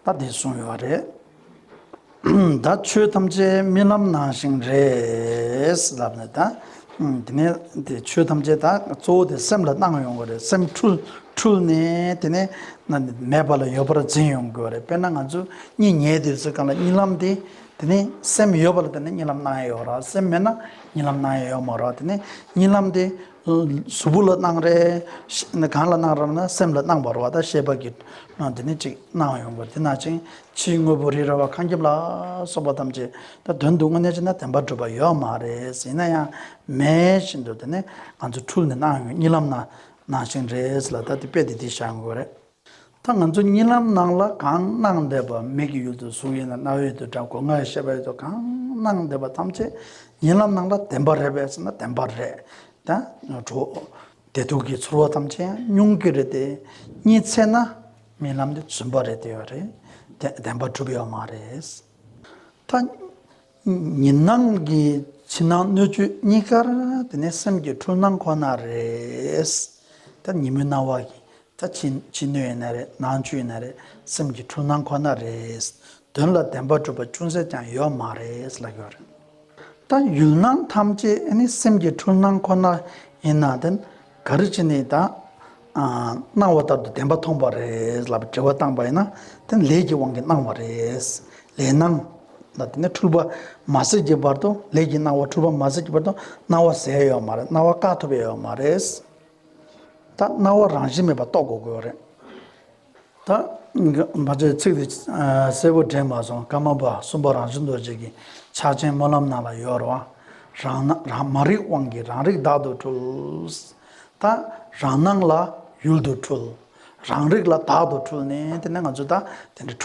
Speaker 2: ད་དེ་གསུངས་ཡོད་རེད། ད་ཆོས་ཐམས་ཅད་རྨི་ལམ་ནང་བཞིན་རེད། དེ་ནས་དེ་ཆོས་ཐམས་ཅད་དང་གཙོ་བོ་དེ་སེམས་ལ་སྣང་ཡོང་དགོས་རེད་སེམས་འཁྲུལ་ནས་དེ་ནས་མེད་པ་ལ་ཡོད་པར་འཛིན་ཡོང་དགོས་རེད་དཔེར་ན་ང་ཚོ་གཉིད་ཉལ་དུས་སུ་གང་ལ་རྨི་ལམ་དེ་དེ་ནས་སེམས་ཡོད་པ་ལ་དེ་ནས་རྨི་ལམ་སྣང་ཡོང་རོགས་སེམས་མེད་ན་རྨི་ལམ་སྣང་ཡོང་མི་རོགས་དེ་ནས་རྨི་ལམ་དེ། གཟུ་བོ་ལ་སྣང་རེ་གང་ལ་སྣང་རམ་ན་སེམས་ལ་སྣང་བར་བ་ད་ཤེས་པ་གི་ནང་དུ་ནི་ཅིག་སྣང་ཡོང་བར་དེ་སྣང་ཅིང་ཕྱིའི་དངོས་པོ་རི་ར་བ་ཁང་ཁྱིམ་ལ་སོགས་པ་ཐམས་ཅད་ད་དོན་དུ་དངོས་གནས་ཅི་ན་བདེན་པར་གྲུབ་པ་ཡོད་མ་རེད་ཡིན་ན་ཡང་མེད་བཞིན་དུ་དེ་ནི་ང་ཚོ་འཁྲུལ་ནས་སྣང་ཡོང་གཉིད་ལམ་ན་སྣང་ཞིང་རེད་ལ་ད་དེ་དཔེ་དེ་དེ་བཞག་དགོས་རེད། ད་ང་ཚོ་གཉིད་ལམ་ནང་ལ་གང་སྣང་བདེ་བ་མིག་གི་ཡུལ་དུ་གཟུགས་ཡིན་ལ་རྣ་བའི་ཡུལ་དུ་སྒྲ་གོ་ངའི་ཤེས་པའི་ཡུལ་དུ་གང་སྣང་བདེ་བ་ཐམས་ཅད་གཉིད་ལམ་ནང་ལ་བདེན་པ་རེད་བས་ཟེར་ན་བདེན་པ་རེད་དེ། དྲོ། བདེ་སྡུག་གི་ཚོར་བ་ཐམས་ཅད་ཡང་མྱོང་གི་རེད་དེ། གཉིད་ཚད་ན་རྨི་ལམ་དེ་རྫུན་པ་རེད་དེ། བདེན་པ་གྲུབ་ཡོད་མ་རེད། ད། ཉིན་སྣང་གི་ཕྱི་ནང་སྣོད་བཅུད་གཉིས་ཀར་དེ་ནས་སེམས་ཀྱི་འཁྲུལ་སྣང་ཁོ་ན་རེད། ད་ཉིན་མོའི་སྣང་བ་གི་ད་ཕྱི་སྣོད་ཡིན་ན་རེད་ནང་བཅུད་ཡིན་ན་རེད་སེམས་ཀྱི་འཁྲུལ་སྣང་ཁོ་ན་རེད། དོན་ལ་བདེན་པ་གྲུབ་པ་ཅུང་ཟད་ཀྱང་ཡོད་མ་རེད་ལབ་ཡོད་རེད། ད་ཡུལ་སྣང་ཐམས་ཅད་ནི་སེམས་ཀྱི་འཁྲུལ་སྣང་ཁོ་ན་ཡིན་ན་དེ་ག་རེ་བྱས་ནས་ད། སྣང་བ་ལྟར་དུ་བདེན་པ་མཐོང་བ་རེད་ལབ་དྲི་བ་བཏང་པ་ཡིན་ན་དེ་ནི་ལས་ཀྱི་དབང་གིས་སྣང་བ་རེད། ལས་སྣང། ལ་དེ་ནི་འཁྲུལ་པ་མ་ཟད་ཀྱི་བར་དུ་ལས་ཀྱི་སྣང་བ་འཁྲུལ་པ་མ་ཟད་ཀྱི་བར་དུ་སྣང་བ་ཟད་ཡོད་མ་རེད་སྣང་བ་བཀག་ཐུབ་ཡོད་མ་རེད། ད་སྣང་བ་རང་བཞིན་མེད་པ་རྟོགས་དགོས་དགོས་རེད། ད་བར་དེ་ཚིག་དེ་གསལ་པོ་དྲན་མ་སོང་ཀརྨ་པ་གསུམ་པ་རང་བྱུང་རྡོ་རྗེ་གི་ཕྱག་ཆེན་སྨོན་ལམ་སྣང་ལ་ཡོད་རུང། རང་སྣང་མ་རིག་དབང་གིས་རང་རིག་བདག་ཏུ་འཁྲུལ། ད་རང་སྣང་ལ་ཡུལ་དུ་འཁྲུལ། རང་རིག་ལ་བདག་ཏུ་འཁྲུལ་ནས་དེ་ནས་ང་ཚོ་ད་དེ་འདྲ་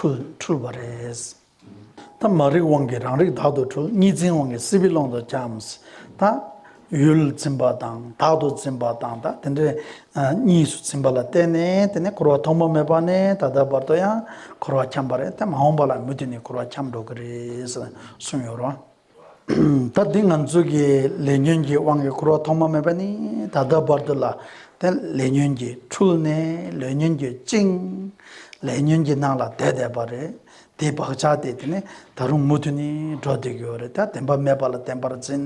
Speaker 2: འཁྲུལ་བ་རེད། ཐ་མ་རིག་དབང་གིས་རང་རིག་དག་ཏུ་གྲོལ་གཉིས་འཛིན་དབང་གིས་སྲིད་པའི་ཀློང་དུ་འཁྱམས། དང། ཡུལ་འཛིན་པ་དང་དག་ཏུ་འཛིན་པ་དང་དག་འདི་འདྲ་གཉིས་སུ་འཛིན་པ་ལ་བརྟེན་ནས་དེ་ནས་འཁོར་བ་ཐོག་མ་མེད་པ་ནས་ད་ལྟ་བར་དུ་ཡང་འཁོར་བར་འཁྱམས་པ་རེད་དེ་མ་འོངས་པ་ལ་མུ་མཐུད་ནས་འཁོར་བར་འཁྱམས་འགྲོ་གི་རེད་ཟེར་གསུངས་ཡོད་རོ། ད་ལྟའི་ང་ཚོ་གི་ལས་ཉོན་གྱི་དབང་གིས་འཁོར་བ་ཐོག་མ་མེད་པ་ནི་ད་ལྟ་བར་དུ་ལ་དེ་ལས་ཉོན་གྱིས་འཁྲུལ་ནས་ལས་ཉོན་གྱིས་བཅིངས། ལས་ཉོན་གྱི་ནང་ལ་བསྡད་བསྡད་པ་རེད། དེའི་བག་ཆགས་དེ་དེ་ནས་ད་རུང་མུ་མཐུད་ནས་འགྲོ་བསྡད་ཀྱི་ཡོད་རེད་ད་བདེན་པ་མེད་པ་ལ་བདེན་པར་འཛིན།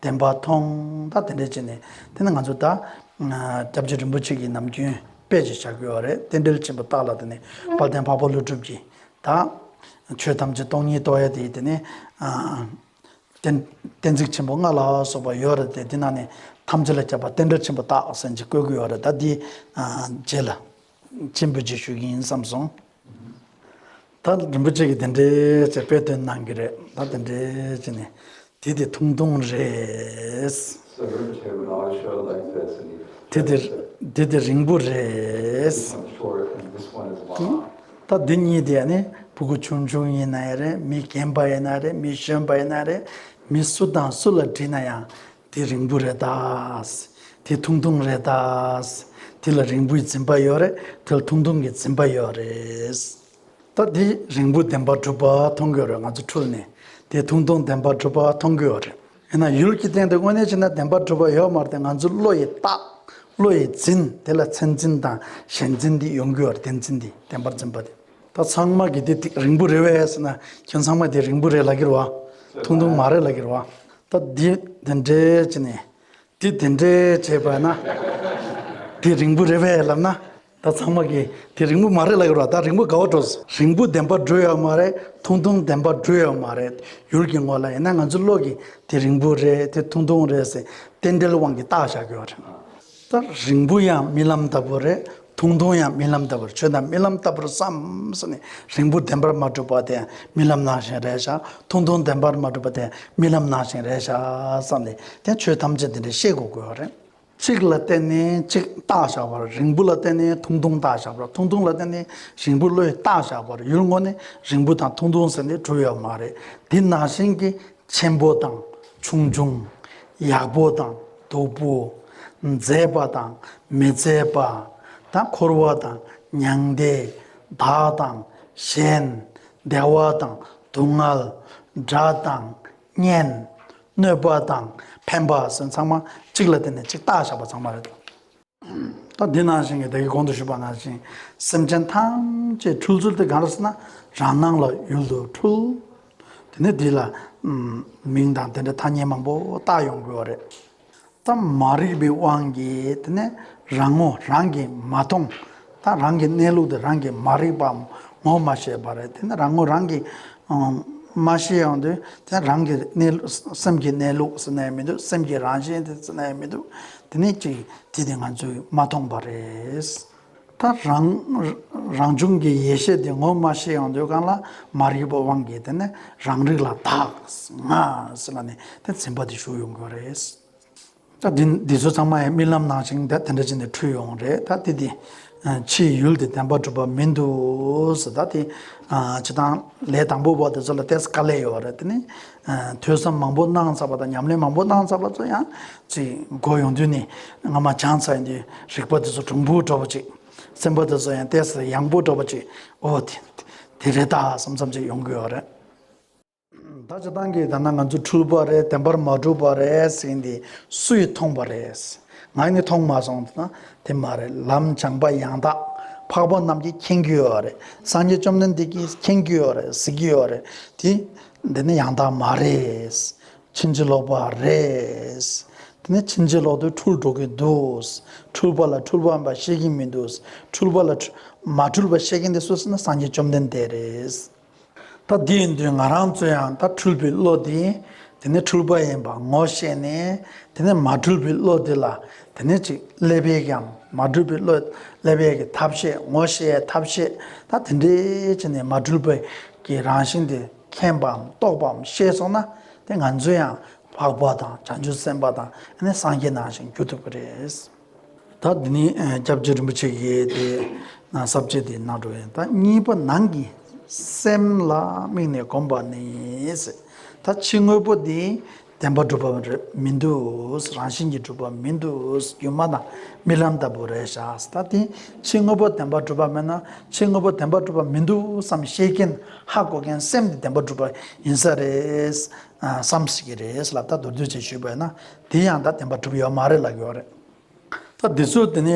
Speaker 2: བདེན་པ་མཐོང་ད་དེ་འདྲས་བྱས་ནས་དེ་ནི་ང་ཚོ་ད་སྐྱབས་རྗེ་རིན་པོ་ཆེ་གི་ནམ་རྒྱུན་དཔེ་ཅིག་བཞག་གི་ཡོད་རེད་རྟེན་འབྲེལ་ཆེན་པོ་བརྟགས་ལ་དེ་ནས་དཔལ་ལྡན་འཕགས་པ་ཀླུ་སྒྲུབ་ཀྱིས་དང། ཆོས་ཐམས་ཅད་སྟོང་ཉིད་རྟོགས་ཡས་ཏེ་དེ་ནི། གཏན་ཚིགས་ཆེན་པོ་ལྔ་ལ་སོགས་པ་ཡོད་རེད་དེ་དེ་རྣམས་ནི་ཐམས་ཅད་ལ་ཁྱབ་པ་རྟེན་འབྲེལ་ཆེན་པོ་རྟགས་བསལ་གྱི་བཀོད་དགོས་རེད་ད་འདིའི་རྗེས་ལ། མཆན་བུ་རྗེས་ཞུ་གི་ཡིན་བསམ་སོང། ད་རིན་པོ་ཆེ་གི་དེ་འདྲའི་ཅེས་དཔེ་དོན་གནང་གི་རེད་ད་དེ་འདྲའི་ཅེས་ནི་
Speaker 3: དེ་དེ་ཐུང་ཐུང་རེད།
Speaker 2: དེ་དེ་དེ་རིང་
Speaker 3: པོ་རེད། ད་འདི་གཉིས་དེ་
Speaker 2: ནི་བུ་གུ་ཆུང་ཆུང་ཡིན་ན་ཡང་རེད་མི་རྒན་པ་ཡིན་ན་རེད་མི་གཞོན་པ་ཡིན་ན་རེད་མི་སུ་དང་སུ་ལ་དྲིས་ན་ཡང་དེ་རིང་པོ་རེད་ད། དེ་ཐུང་ཐུང་རེད་ད། དེ་ལ་རིང་པོའི་འཛིན་པ་ཡོད་རེད་དེ་ལ་ཐུང་ཐུང་གི་འཛིན་པ་ཡོད་རེད། ད་དེ་རིང་བུ་བདེན་པར་གྲུབ་པ་མཐོང་དགོས་རེད་ང་ཚོ་འཁྲུལ་ནས་དེ་ཐུང་ཐུང་བདེན་པར་གྲུབ་པ་མཐོང་དགོས་རེད་ཡིན་ན་ཡུལ་གྱི་སྟེང་དུ་དངོས་གནས་ཕྱིན་ན་བདེན་པར་གྲུབ་པ་ཡོད་མ་རེད་ང་ཚོའི་བློ་ཡི་རྟགས་བློ་ཡི་འཛིན་དེ་ལ་མཚན་འཛིན་དང་ཞེན་འཛིན་འདི་ཡོང་གི་ཡོད་རེད་བདེན་འཛིན་འདི་བདེན་པར་འཛིན་པ་འདི། ད་ཚང་མ་གི་དེ་དེ་རིང་བུ་རེད་བས་ཟེར་ན་ཁྱེད་ཚང་མ་དེ་རིང་བུ་རེད་ལབ་གི་རེད་བ། ཐུང་ཐུང་མ་རེད་ལབ་གི་རེད་བ། ད་འདི་དེ་འདྲས་བྱས་ནས་དེ་དེ་འདྲས་བྱས་པ་ན་དེ་རིང་བུ་རེད་བས་ལབ་ན་ད་ཚང་མ་གིས་དེ་རིང་པོ་མ་རེད་ལ་ཡོད་ར་ད་རིང་པོ་དགའ་བ་འགྲོ། རིང་པོ་བདེན་པ་བགྲོས་ཡོད་མ་རེད་ཐུང་ཐུང་བདེན་པ་བགྲོས་ཡོད་མ་རེད་ཡུལ་གྱི་ངོ་ལ་ཡིན་ན་ང་ཚོའི་བློ་གིས་དེ་རིང་པོ་རེད་དེ་ཐུང་ཐུང་རེད་ཟེར་རྟེན་འབྲེལ་དབང་གིས་བཏགས་བཞག་དགོས་རེད། ད་རིང་པོ་ཡང་རྨི་ལམ་ལྟ་བུ་རེད་ཐུང་ཐུང་ཡང་རྨི་ལམ་ལྟ་བུ་རེད་ཁྱོད་ད་རྨི་ལམ་ལྟ་བུར་བསམས་ནས་རིང་པོ་བདེན་པར་མ་གྲུབ་པ་དེ་རྨི་ལམ་ནང་བཞིན་རེད་བཞག་ཐུང་ཐུང་བདེན་པར་མ་གྲུབ་པ་དེ་རྨི་ལམ་ནང་བཞིན་རེད་བཞག་བསམས་ནས་དེ་ཁྱོད་ཐམས་ཅད་དེ་འདྲའི་ཤེས་གོ་དགོས་རེད། གཅིག་ལ་བརྟེན་ནས་གཅིག་རྟགས་བཞག་པ་རིང་བུ་ལ་བརྟེན་ནས་ཐུང་ཐུང་རྟགས་བཞག་པ་ཐུང་ཐུང་ལ་བརྟེན་ནས་ཞིང་བུ་ལོའི་རྟགས་བཞག་པར་ཡུལ་དངོས་ནི་རིང་བུ་དང་ཐུང་ཐུང་ཟེར་ནས་གྲུབ་ཡོད་མ་རེད་དེ་ནང་བཞིན་གྱི་ཆེན་པོ་དང་ཆུང་ཆུང། ཡག་པོ་དང་སྡུག་པོ། མཛེས་པ་དང་མི་མཛེས་པ། དང་འཁོར་བ་དང་མྱང་འདས། བདག་དང་གཞན། བདེ་བ་དང་སྡུག་བསྔལ། སྒྲ་དང་བརྙན། གནོད་པ་དང་ཕན་པ་སེམས་ཚང་མ་གཅིག་ལ་བརྟེན་ནས་གཅིག་བརྟག་བཞག་པ་ཚང་མ་རེད་དོ། ད་འདི་ནང་བཞིན་གྱི་བདག་གི་གོང་དུ་ཞུས་པ་སྔར་བཞིན་སེམས་ཅན་ཐམས་ཅད་འཁྲུལ་ཚུལ་དེ་གང་རེད་ཟེར་ན་རང་སྣང་ལ་ཡུལ་དུ་འཁྲུལ། དེ་ནས་འདི་ལ་མིང་དང་དེ་འདྲའི་ཐ་སྙད་མང་པོ་བཏགས་ཡོང་དགོས་བ་རེད། ཙམ་མ་རིག་པའི་དབང་གིས་དེ་ནི་རང་ངོ་རང་གིས་མ་མཐོང་དང་རང་གི་གནས་ལུགས་དེ་རང་གིས་མ་རིག་པའམ་ངོ་མ་ཤེས་པ་རེད་དེ་ནི་རང་ངོ་རང་གིས་མ་ཤེས་ཡང་དེ་དེ་རང་གི་གནས་ལུགས་སེམས་ཀྱི་གནས་ལུགས་སུ་གནས་མི་འདུག་སེམས་ཀྱི་རང་བཞིན་དེ་སུ་གནས་མི་འདུག་དེ་ནི་གཅིག་དེ་དེ་ང་ཚོས་མ་མཐོང་པ་རེད། ད་རང་རང་བྱུང་གི་ཡེ་ཤེས་དེ་ངོ་མ་ཤེས་ཡོང་དུས་གང་ལ་མ་རིག་པའི་དབང་གིས་དེ་ནས་རང་རིག་ལ་དྭགས་ང་ཟེར་བ་ནི་དེ་འཛིན་པ་དེ་ཞུགས་ཡོང་གི་རེད། ད་འདི་འདི་ཚོ་ཚང་མ་ཡང་རྨི་ལམ་ནང་བཞིན་དེ་འདྲ་ཅིག་ནས་འཁྲུལ་ཡོང་བ་རེད་ད་དེ་དེ་ཕྱིའི་ཡུལ་དེ་བདེན་པ་གྲུབ་པ་མིན་འདུག་ཟེར་ད་དེ་བྱེད་སྟངས་ལས་དང་པོ་བ་དེ་ཚོ་ལ་ཏེས་ཀ་ལས་ཡོད་རེད་དེ་ནི། ཐོས་བསམ་མང་པོ་གནང་ཚར་བ་དང་ཉམས་ལེན་མང་པོ་གནང་ཚར་བ་ཚོ་ཡང་ཚེ་འགོ་ཡོང་དུས་ནས་སྔ་མ་བྱང་ཚ་ཡིན་དུས་རིག་པ་འདི་ཚོ་གྲུང་པོ་འགྲོ་བ་ཅིག་སེམས་པ་འདི་ཚོ་ཡང་ལྟས་ས་ཡངས་པོ་འགྲོ་བ་ཅིག་ཨོ་དེ་དེ་རེད་ད་བསམ་བསམ་ཅིག་ཡོང་གི་ཡོད་རེད། ད་ཅི་སྟངས་ཀྱིས་ད་ནང་ང་ཚོ་འཁྲུལ་པ་རེད་བདེན་པར་མ་གྲུབ་པ་རེད་ཟེར་འདི་སུས་མཐོང་པ་རེད། ང་ནི་མཐོང་མ་སོང་ད་དེ་མ་རེད་ལམ་བྱང་པ་ཡང་དག་འཕགས་པ་རྣམས་ཀྱིས་མཁྱེན་གྱི་ཡོད་རེད་སངས་རྒྱས་བཅོམ་ལྡན་འདས་ཀྱིས་མཁྱེན་གྱི་ཡོད་རེད་ཟེར་གྱི་ཡོད་རེད་དེ་འདི་ནི་ཡང་དག་མ་རེད། ཕྱིན་ཅི་ལོག་པ་རེད། འདི་ནི་ཕྱིན་ཅི་ལོག་ཏུ་འཁྲུལ་འགྲོ་གི་འདུག། འཁྲུལ་པ་ལ་འཁྲུལ་པ་འབའ་ཤེས་ཀྱི་མི་འདུག། འཁྲུལ་པ་ལ། མ་འཁྲུལ་པ་ཤེས་མཁན་དེ་སུ་ཟེར་ན་སངས་རྒྱས་བཅོམ་ལྡན་འདས་རེད། ད་དེའི་མདུན་ང་རང་ཚོ་ཡང་དག་འཁྲུལ་པའི་བློ་དེ། དེ་ནི་འཁྲུལ་པ་ཡིན་པར་ངོ་ཤེས་ནས། དེ་ནས་མ་འཁྲུལ་པའི་བློ་དེ་ལ། དེ་ནས་ཅིག་ཀླད་པའི་ཡང་མ་གྲུབ་པའི་བློས་ཀླད་པའི་གི་ཐབས་ཤེས་ངོ་ཤེས་ཐབས་ཤེས་ད་དེ་འདྲའི་ཆེ་ནས་མ་གྲུབ་པའི་གི་རང་བཞིན་དེ་མཁྱེན་པའམ་རྟོགས་པའམ་ཤེས་སོང་ན་དེ་ང་ཚོའི་ཡང་འཕགས་པ་དང་བྱང་ཆུབ་སེམས་དཔའ་དང་ནི་སངས་རྒྱས་ནང་བཞིན་འགྱུར་ཐུབ་པ་རེད། ད་དེ་ནི་སྐྱབས་རྗེ་རིན་པོ་ཆེ་གི་དེ་ནང་ཟབ་ཆོས་དེ་ནང་དུ་ད་གཉིས་པ་ནང་གི་སེམས་ལ་དམིགས་ནས་བསྒོམ་པ་ནི་ད་ཕྱི་དངོས་པོ་དེ་བདེན་པ་སྒྲུབ་པ་རེད་མི་འདུག་རང་བཞིན་གྱིས་སྒྲུབ་པ་མི་འདུག་སྒྱུ་མ་དང་རྨི་ལམ་ལྟ་བུ་རེད་ཤག་ས་ཏེ་ཕྱི་དངོས་པོ་བདེན་པ་སྒྲུབ་པ་མེད་ན་ཕྱི་དངོས་པོ་བདེན་པ་སྒྲུབ་པ་མི་འདུག་བསམ་ཤེས་མཁན་ཧ་གོ་མཁན་སེམས་དེ་བདེན་པ་སྒྲུབ་པ་ཡིན་ས་རེད་བསམ་ཤེས་ཀྱི་རེད་ལབ་ད་མདོར་བསྡུས་བྱས་ཞུས་པས་ན་དེ་ཡང་ད་བདེན་པ་སྒྲུབ་ཡོད་མ་རེད་ལབ་ཡོད་རེད། ད་དེ་ཚོ་དེ་ནས་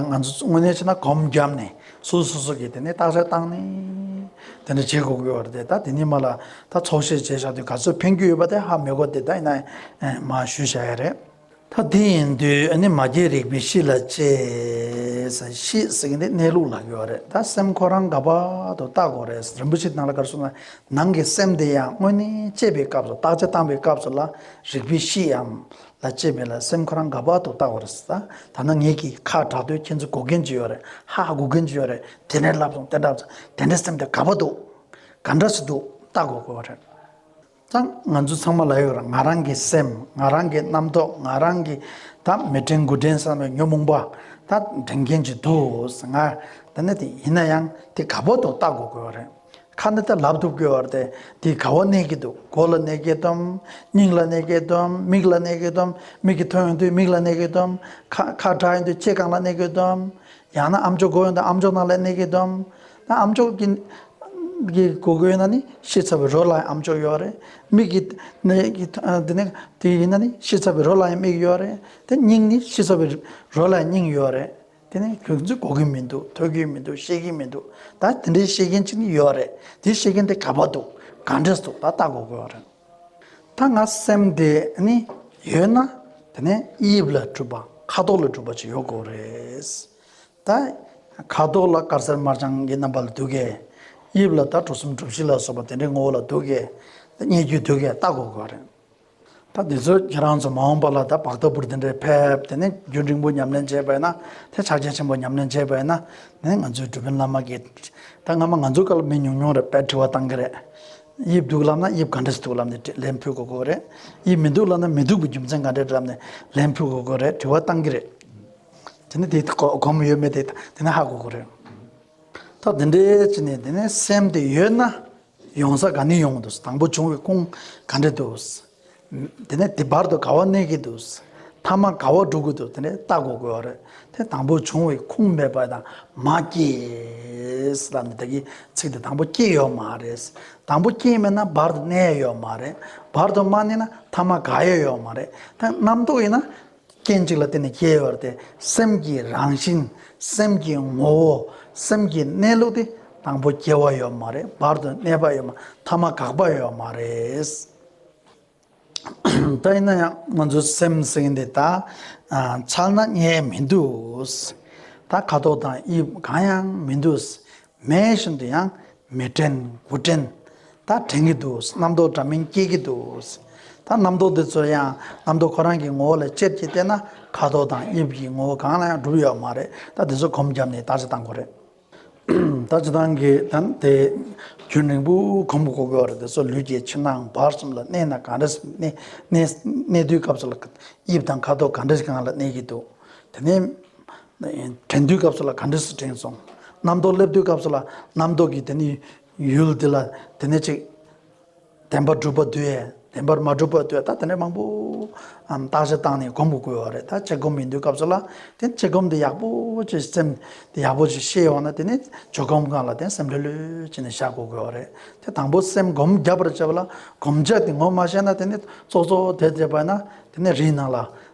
Speaker 2: ང་ཚོ་དངོས་གནས་བྱས་ན་གོམ་བརྒྱབ་ནས་སུ་སུ་སུ་གི་དེ་ནས་བརྟག་དཔྱད་བཏང་ནས་དེ་འདྲ་བྱེད་དགོས་ཀྱི་ཡོད་རེད་ད་དེ་ནས་མ་ལ་ད་ཚོགས་བཤད་བྱས་བཞག་དུས་ག་ཚོད་ཕན་རྒྱུ་ཡོད་པ་དེ་ཧ་མི་གོ་དེ་ད་ཡིན་ན་མ་ཞུས་བཞག་ཡ་རེད། ད་དེ་ཡིན་དུས་ནི་མ་སྐྱེས་རིག་པའི་གཤིས་ལ་དཔྱད། གཤིས་ཟེར་གྱི་འདི་གནས་ལུགས་ལགས་ཀྱི་ཡོད་རེད་ད་སེམས་ཁོ་རང་དགའ་བར་དུ་བརྟག་དགོས་རེད་རིན་པོ་ཆེ་ནང་ལ་གར་སོང་ནང་གི་སེམས་དེ་ཡང་དངོས་གནས་དཔྱད་པའི་སྐབས་སུ་བརྟག་དཔྱད་བཏང་བའི་སྐབས་སུ་ལ་རིག་པའི་གཤིས་འམ་ལ་སྐྱེས་མེད་ལ་སེམས་ཁོ་རང་དགའ་བག་ཏུ་བཏགས་བར་བྱ། ད་ནི་ངེད་ཀྱིས་ཁ་གྲགས་དུས་ཁྱེད་ཚོས་སྒུག་གིན་ཅི་ཡོད་རེད། ཧ་ཧ་སྒུག་གིན་ཅི་ཡོད་རེད། དེ་འདྲའི་ལབ་སོང་དེ་འདྲ་བྱུང་དེ་འདྲའི་སེམས་དེ་དགའ་བོ་འདུག་ག་འདྲ་ཞིག་འདུག་ལྟ་དགོས་དགོས་བ་རེད། ཙང་ང་ཚོ་ཚང་མ་ལ་ཡོད་ར་ང་རང་གི་སེམས་ང་རང་གི་རྣམ་རྟོག་ང་རང་གི་ད་མི་དྲན་དགུ་དྲན་བསམ་བའི་ཉོན་མོངས་པ་ད་དྲན་གྱིན་ཅི་འདུག་ང་ད་ནི་དེ་ཡིན་ན་ཡང་དེ་དགའ་བོ་འདུག་ལྟ་དགོས་དགོས་བ་རེད། ཁ་ནི་ད་ལབ་ཏུ་བསྐོལ་བར་ཏེ་དེའི་ག་བ་གནས་སྐྱེ་འདུག་མགོ་ལ་གནས་སྐྱེ་དོམ། སྙིང་ལ་གནས་སྐྱེ་དོམ་མིག་ལ་གནས་སྐྱེ་དོམ་མིག་གི་ཐོ་ཡོང་དུས་མིག་ལ་གནས་སྐྱེ་དོམ། ཁ་ཁ་བྲག་ཡིན་དུས་ལྕེ་རྐང་ལ་གནས་སྐྱེ་དོམ། ཡང་ན་ཨམ་ཅོག་མགོ་ཡོང་དུས་ཨམ་ཅོག་ནང་ལ་གནས་སྐྱེ་དོམ། ད་ཨམ་ཅོག་གི་གི་གོ་གོ་ཡོད་ན་ནི་ཤེས་ཚར་བས་རོ་ལ་ཡང་ཨམ་ཅོག་ཡོད་རེད། མིག་གི་ནི་གི་དེ་ནི་དེ་ཡིན་ན་ནི་ཤེས་ཚར་བས་རོ་ལ་ཡང་མིག་ཡོད་རེད། དེ་སྙིང་ནི་ཤེས་ཚར་བས་རོ་ལ་ཡང་སྙིང་ཡོད་རེད། དེ་ནས་ཁྱོད་ཚོས་གོ་གི་མི་འདུག་ཐོས་ཀྱི་མི་འདུག་ཤེས་ཀྱི་མི་འདུག་ད་དེ་འདྲའི་ཤེས་མཁན་གཅིག་ནི་ཡོད་རེད་དེ་ཤེས་མཁན་དེ་ག་པ་འདུག་ག་འདྲས་འདུག་ད་ལྟ་གོ་དགོས་བ་རེད། ད་ང་སེམས་དེ་ནི་ཡོད་ན་དེ་ནས་དབྱིབས་ལ་གྲུབ་པ་ཁ་དོག་ལ་གྲུབ་པ་ཅིག་ཡོད་དགོས་རེད། ད་ཁ་དོག་ལ་དཀར་སེར་དམར་ལྗང་གི་རྣམ་པ་ལ་འདུག་གས། དབྱིབས་ལ་ད་གྲུ་གསུམ་གྲུ་བཞི་ལ་སོགས་པ་དེ་འདྲའི་ངོ་བོ་ལ་འདུག་གས། རྙེད་རྒྱུ་འདུག་གས་ལྟ་གོ་དགོས་བ་རེད། ད་འདི་ཚོས་ཁྱེད་རང་ཚོ་མ་འོངས་པ་ལ་ད་བག་ལྟ་བུར་འདི་འདྲའི་ཕེབས་དེ་ནས་རྒྱུན་རིང་པོ་ཉམས་ལེན་བྱས་པས་ན་དེ་ཕྱག་རྒྱ་ཆེན་པོ་ཉམས་ལེན་བྱས་པས་ན་ནི་ང་ཚོའི་སྒྲུབ་དཔོན་བླ་མ་གིས་ད་སྔ་མ་ང་ཚོ་སྐལ་མེད་ཉུང་ཉུང་རེད་པས་དྲི་བ་གཏང་གི་རེད། དབྱིབས་སྡུག་ལབ་ན་དབྱིབས་ག་འདྲས་སྡུག་ལབ་ནས་ལན་ཕུལ་དགོས་དགོས་རེད། དབྱིབས་མི་སྡུག་ལབ་ན་མི་སྡུག་པའི་རྒྱུ་མཚན་ག་འདྲས་ལབ་ནས་ལན་ཕུལ་དགོས་དགོས་རེད་དྲི་བ་གཏང་གི་རེད། དེ་ནས་དེ་གོ་མི་ཡོད་མེད་དེ་ད་དེ་ནས་ཧ་གོ་དགོས་རེད། ད་འདི་འདྲའི་ཕྱི་ནས་དེ་ནས་སེམས་དེ་ཡོད་ན་ཡོང་ས་ག་ནས་ཡོང་འདུག་དང་པོ་བྱུང་བའི་ཁུངས་ག་འདྲས་འདུག་དེ་ནས་དེ་བར་དུ་ག་བ་གནས་ཀྱི་འདུག་མཐའ་མ་ག་བ་འགྲོ་གི་འདུག་དེ་འདྲས་བལྟ་དགོས་དགོས་བ་རེད་དེ་དང་པོ་བྱུང་བའི་ཁུངས་མེད་པ་དང་མ་སྐྱེས་ལབ་ནས་བདག་གིས་ཚིག་དེ་དང་པོ་སྐྱེས་ཡོད་མ་རེད་དང་པོ་སྐྱེས་མེད་ན་བར་དུ་གནས་ཡོད་མ་རེད་བར་དུ་མ་གནས་ན་མཐའ་མ་ག་ཡོད་ཡོད་མ་རེད་དེ་རྣམ་རྟོག་ཡིན་ན་རྐྱེན་གཅིག་ལ་བརྟེན་ནས་སྐྱེ་བ་སྟེ་སེམས་ཀྱི་རང་བཞིན་སེམས་ཀྱི་ངོ་བོ་སེམས་ཀྱི་གནས་ལུགས་དེ་དང་པོ་སྐྱེ་བ་ཡོད་མ་རེད་བར་དུ་གནས་པ་ཡོད་མ་ཐ་མ་འགག་པ་ཡོད་མ་རེད། ད་ཡིན་ན་ཡང་ང་ཚོ་སེམས་ཟེར་མཁན་དེ་ད་ཕྱག་ན་རྙེད་མི་འདུག་ད་ཁ་དོག་དང་དབྱིབས་གང་ཡང་མི་འདུག་མེད་བཞིན་དུ་ཡང་མེད་དྲན་དགུ་དྲན་ད་དྲན་གྱི་འདུག་རྣམ་རྟོག་འདྲ་མིན་སྐྱེས་ཀྱི་འདུག་ད་རྣམ་རྟོག་འདི་ཚོ་ཡང་རྣམ་རྟོག་ཁོ་རང་གི་ངོ་བོ་ལ་ཅེར་གྱིས་བལྟས་ན་ཁ་དོག་དང་དབྱིབས་ཀྱི་ངོ་བོ་གང་ལ་ཡང་གྲུབ་ཡོད་མ་རེད་ད་དེ་ཚོ་གོམས་བརྒྱབ་ནས་ད་ཅི་བཏང་གོ་རེད། ད་ཅི་བཏང་གི་ད་དེ་རྒྱུན་རིང་པོ་གོམས་དགོས་གོ་རེད་དེ་ཚོ་ལུས་ཀྱི་ཕྱི་ནང་བར་གསུམ་ལ་གནས་ན་གང་རེད་གནས་དུས་སྐབས་སུ་ལ་དབྱིབས་དང་ཁ་དོག་གང་རེད་གང་ལ་གནས་ཀྱི་འདུག་དེ་ནས་དྲན་དུས་སྐབས་སུ་ལ་ག་འདྲི་སུ་དྲན་སོང། རྣམ་རྟོག་སླེབས་དུས་སྐབས་སུ་ལ་རྣམ་རྟོག་གིས་དེ་ནི་ཡུལ་འདི་ལ་དེ་ནས་ཅིག། བདེན་པར་སྒྲུབ་པ་འདོད། བདེན་པར་མ་སྒྲུབ་པ་འདོད་ད་དེ་འདྲའི་མང་པོ། བརྟག་བྱ་བཏང་ནས་སྒོམ་དགོས་དགོས་བ་རེད་ད་དཔྱད་སྒོམ་ཡིན་དུས་སྐབས་སུ་ལ་དེ་དཔྱད་སྒོམ་འདི་ཡག་པོ་ཅེས་སེམས་འདི་ཡག་པོ་ཅེས་ཤེས་ཡོང་ན་དེ་ནས་ཇོ་སྒོམ་གང་ལ་དེ་སེམས་ལྷོད་ལྷོད་ཅིག་ནས་བཞག་དགོས་དགོས་བ་རེད་དེ་དང་པོ་སེམས་སྒོམ་རྒྱབ་པར་བྱེད་པ་ལ་སྒོམ་བྱ་དེ་ངོ་མ་ཤེས་ན་དེ་ནས་ཙོག་ཙོག་དེ་བྱེད་པ་ན་དེ་ནས་རིགས་སྣང་ལ་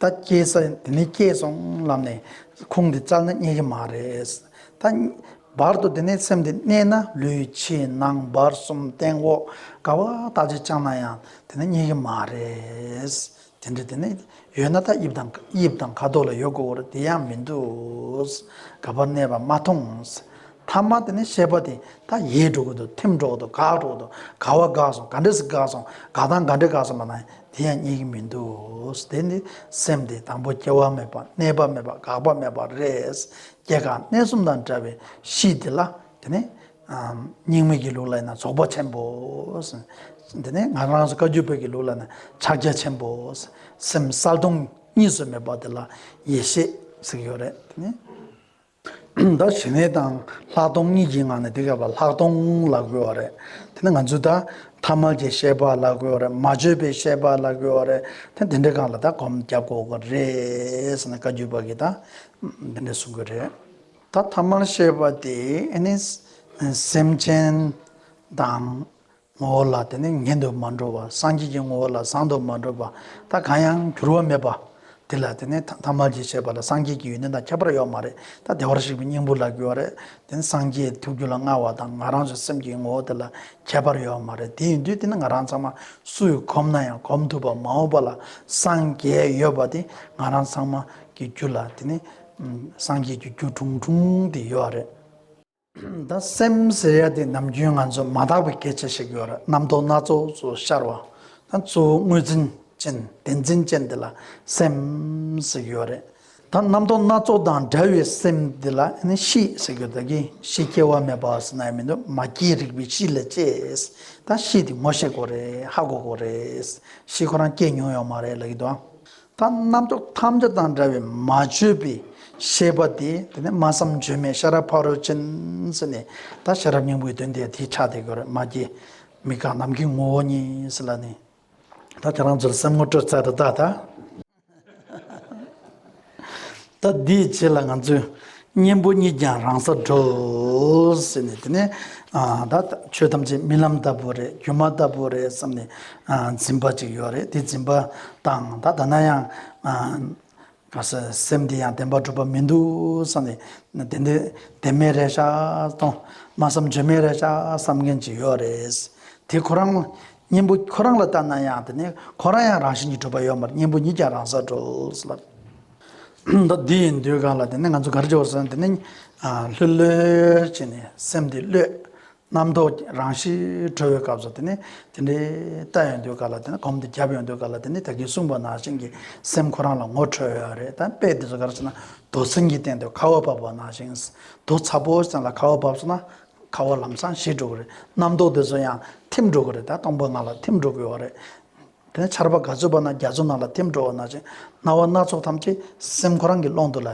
Speaker 2: ད་སྐྱེས་ས་དེ་ནས་སྐྱེས་སོང་ལབ་ནས་ཁུངས་དེ་བཙལ་ན་རྙེད་ཀྱི་མ་རེད། ད་བར་དུ་དེ་ནས་སེམས་དེ་གནས་ན་ལུས་ཕྱི་ནང་བར་གསུམ་སྟེང་འོག་ག་བ་ད་ཅི་བཅང་ན་ཡང་དེ་ནས་རྙེད་ཀྱི་མ་རེད། དེ་འདྲ་དེ་ནས་ཡོད་ན་ད་དབྱིབས་དང་དབྱིབས་དང་ཁ་དོག་ལ་ཡོད་དགོས་བོར་དེ་ཡང་མི་འདུག་ག་བར་གནས་པ་མ་མཐོང། ཐ་མ་དེ་ནི་ཤེས་པ་དེ་ད་ཡེས་འགྲོ་གི་འདུག་ཐེམས་འགྲོ་གི་འདུག་དགག་འགྲོ་གི་འདུག་དགག་བ་དགག་སོང་ག་འདྲས་སུ་དགག་སོང་དགག་དང་ག་འདྲས་དགག་སོང་བ་ན་དེ་ཡང་རྙེད་ཀྱི་མི་འདུག་དེ་ནི་སེམས་དེ་དང་པོ་སྐྱེ་བ་མེད་པ་གནས་པ་མེད་པ་དགག་པ་མེད་པ་རེད། སྐྱེ་འགག་གནས་གསུམ་དང་བྲལ་བའི་གཤིས་དེ་ལ་དེ་ནི། རྙིང་མའི་གི་ལུགས་ལ་ཡིན་ན་རྫོགས་པ་ཆེན་པོ། དེ་ནི་ང་རང་བཀའ་བརྒྱུད་བོད་ཀྱི་ལུགས་ལ་ནི་ཕྱག་རྒྱ་ཆེན་པོ། སེམས་གསལ་སྟོང་གཉིས་སུ་མེད་པ་དེ་ལ་ཡེ་ཤེས་ཟེར་གྱི་ཡོད་རེད་དེ་ནི། ད་ཞི་གནས་དང་ལྷག་མཐོང་གཉིས་ཀྱི་ངང་ནས་འདི་ག་བར་ལྷག་མཐོང་ལ་གོལ་བ་རེད། དེ་ནི་ང་ཚོས་ད་ཐ་མལ་གྱི་ཤེས་པ་ལ་གོལ་བ་རེད་མ་བཅོས་པའི་ཤེས་པ་ལ་གོལ་བ་རེད་དེ་འདི་འདྲའི་སྒང་ལ་ད་གོམ་རྒྱབ་དགོས་དགོས་རེད་ཟེར་ན་བཀའ་བརྒྱུད་པ་གིས་ད་འདི་འདྲ་གསུང་གི་རེད། ད་ཐ་མལ་ཤེས་པ་དེ་ནི་སེམས་ཅན་དང། ངོ་བོ་ལ་དེ་ནི་ངེས་འདོད་མ་འགྲོ་བ་སངས་རྒྱས་ཀྱི་ངོ་བོ་ལ་བཟང་དོ་མ་འགྲོ་བ་ད་གང་ཡང་འགྱུར་བ་མེད་པ། དེ་ལ་དེ་ནི་ཐ་མལ་གྱི་བྱེད་པ་ལ་སངས་རྒྱས་ཀྱི་ཡོན་ཏན་དང་ཁྱད་པར་ཡོད་མ་རེད་ད་བདེ་བར་གཤེགས་པའི་སྙིང་པོ་ལ་གུས་བ་རེད་དེ་ནི་སངས་རྒྱས་ཐུགས་རྒྱུད་ལ་མངའ་བ་དང་ང་རང་ཚོའི་སེམས་ཀྱི་ངོ་བོ་དེ་ལ་ཁྱད་པར་ཡོད་མ་རེད་དེ་ཡིན་དུས་དེ་ནི་ང་རང་ཚང་མ་སུ་ཡིས་གོམས་ན་ཡང་གོམས་ཐུབ་པ་མ་འོངས་པ་ལ་སངས་རྒྱས་ཡོད་པ་དེ་ང་རང་ཚང་མ་གི་རྒྱུད་ལ་དེ་ནི་སངས་རྒྱས་ཀྱི་རྒྱུད་ཁྲུང་ཁྲུང་དེ་ཡོད་རེད། ད་སེམས་ཟེར་ཡ་དེ་ནམ་རྒྱུན་ང་ཚོ་མ་དག་པའི་སྐད་ཆ་ཞིག་ཡོད་རེད་རྣམ་རྟོག་སྣ་ཚོགས་སུ་ཤར་བ་ད་གཙོ་བོ་དངོས་འཛིན་ཅན་བདེན་འཛིན་ཅན་དེ་ལ་སེམས་ཟེར་གྱི་ཡོད་རེད་ད་རྣམ་རྟོག་སྣ་ཚོགས་དང་འདྲ་བའི་སེམས་དེ་ལ་གཤིས་ཟེར་གྱི་ཡོད་ད་གི་གཤིས་སྐྱེ་བ་མེད་པ་ཟེར་ན་ཡང་མི་འདུག་མ་སྐྱེས་རིག་པའི་གཤིས་ལས་སྐྱེས་ད་གཤིས་དེ་ངོ་ཤེས་དགོས་རེད་ཧ་གོ་དགོས་རེད་གཤིས་ཁོ་རང་སྐྱེས་མྱོང་ཡོད་མ་རེད་ལབ་ཀྱི་འདུག་ཨང། ད་རྣམ་རྟོག་ཐམས་ཅད་དང་འདྲ་བའི་མ་བཅོས་པའི་ཤེས་པ་དེ་དེ་ནི་སྨྲ་བསམ་བརྗོད་མེད་ཤ་ར་བྷ་རོ་ཅན་ཟེར་ནས་ད་ཤ་ར་སྙིང་པོའི་དོན་དེ་དེའི་ཆ་དེ་གོ་རེ་མ་སྐྱེས་མི་དགག་ནམ་མཁའི་ངོ་བོ་ཉིད་ཟེར་ལ་ནི། ད་ཁྱེད་རང་ཚོར་སེམས་ངོ་སྤྲོད་ཚར་དུ་བཏགས་ད། ད་འདིའི་རྗེས་ལ་ང་ཚོས་གཉེན་པོ་གཉིས་ཀྱང་རང་སར་འགྲོ། ཟེར་ནས་དེ་ནས་ད་ཆོས་ཐམས་ཅད་རྨི་ལམ་ལྟ་བུ་རེད་སྒྱུ་མ་ལྟ་བུ་རེད་བསམ་ནས་འཛིན་པ་ཅིག་ཡོད་རེད་དེ་འཛིན་པ་དང་ད་ད་ན་ཡང་ག་ས་སེམས་འདི་ཡང་བདེན་པ་གྲུབ་པ་མི་འདུག་བསམ་ནས་དེ་འདི་བདེན་མེད་རེད་ཤག་གཏོང་མ་བསམ་བརྗོད་མེད་རེད་ཤག་བསམ་མཁན་ཅིག་ཡོད་རེད། དེ་ཁོ་རང་གཉེན་པོ་ཁོ་རང་ལ་ལྟ་ན་ཡང་དེ་ནས་ཁོ་རང་ཡང་རང་བཞིན་གྱིས་གྲུབ་པ་ཡོད་མ་རེད་གཉེན་པོ་གཉིས་ཀྱང་རང་སར་འགྲོ། མདོ་འདི་ཡི་མདོའི་སྒང་ལ་དེ་ནས་ང་ཚོ་གར་འབྱོར་སོང་དེ་ནས་ལྷོད་ལྷོད་བྱས་ནས་སེམས་དེ་ཀློད། རྣམ་རྟོག་རང་ཞི་གྲོལ་བའི་སྐབས་སུ་དེ་ནས་དེ་འདྲའི་ལྟ་ཡོང་དུས་ག་ལ་དེ་ནས་གོམ་དེ་བརྒྱབ་ཡོང་དུས་ག་ལ་དེ་ནས་ད་གིན་གསུངས་པ་ནང་བཞིན་གྱི་སེམས་ཁོ་རང་ལ་ངོ་འཕྲོད་ཡོད་རེད་ད་དཔེ་དེ་ཚོ་ག་རེ་བྱས་ན་རྡོ་སྲིན་གྱི་སྟེང་དུ་ཁ་བ་བབས་པ་ནང་བཞིན་རྡོ་ཚ་པོ་སྟེང་ལ་ཁ་བ་བབས་སོང་ན་ཁ་བ་ལམ་སང་ཞི་འགྲོ་གི་རེད་རྣམ་རྟོག་དེ་ཚོ་ཡང་འཐིམ་འགྲོ་གི་རེད་ད་སྟོང་པ་ང་ལ་འཐིམ་འགྲོ་གི་ཡོད་རེད། དེ་ནས་ཆར་པ་ག་ཚོད་པ་ན་རྒྱ་མཚོ་ནང་ལ་འཐིམ་འགྲོ་བ་ན་ཅིང་སྣང་བ་སྣ་ཚོགས་ཐམས་ཅད་སེམས་ཁོ་རང་གི་ཀློང་དུ་ལ་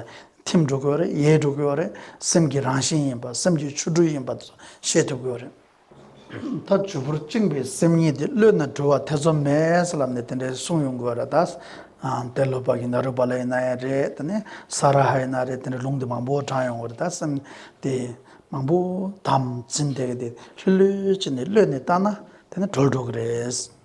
Speaker 2: འཐིམ་འགྲོ་དགོས་རེད་ཡལ་འགྲོ་དགོས་རེད་སེམས་ཀྱི་རང་བཞིན་ཡིན་པ་སེམས་ཀྱི་ཆོ་འཕྲུལ་ཡིན་པ་དེ་ཚོ་ཤེས་ཐུབ་དགོས་རེད། ད་བྱུར་བུར་བཅིངས་པའི་སེམས་ཉིད་དེ་གློད་ན་འགྲུལ་བ་ཐེ་ཚོམ་མེད་ས་ལ་ནི་དེ་འདྲའི་གསུང་ཡོང་དགོས་རེད་ད། དེ་ལོ་པ་གིན་ད་རུ་པ་ལ་ཡིན་ན་ཡང་རེད་དེ་ནས་ས་ར་ཧ་ཡིན་ན་རེད་དེ་འདྲའི་ལུང་དེ་མང་པོ་དྲངས་ཡོང་དགོས་རེད་ད་སེམས་དེ་མང་པོ་དམ་འཛིན་དེ་ག་དེ་ལྷོད་ལྷོད་ཅིག་ནས་གློད་ནས་བཏང་ན་དེ་ནི་གྲོལ་འགྲོ་གི་རེད།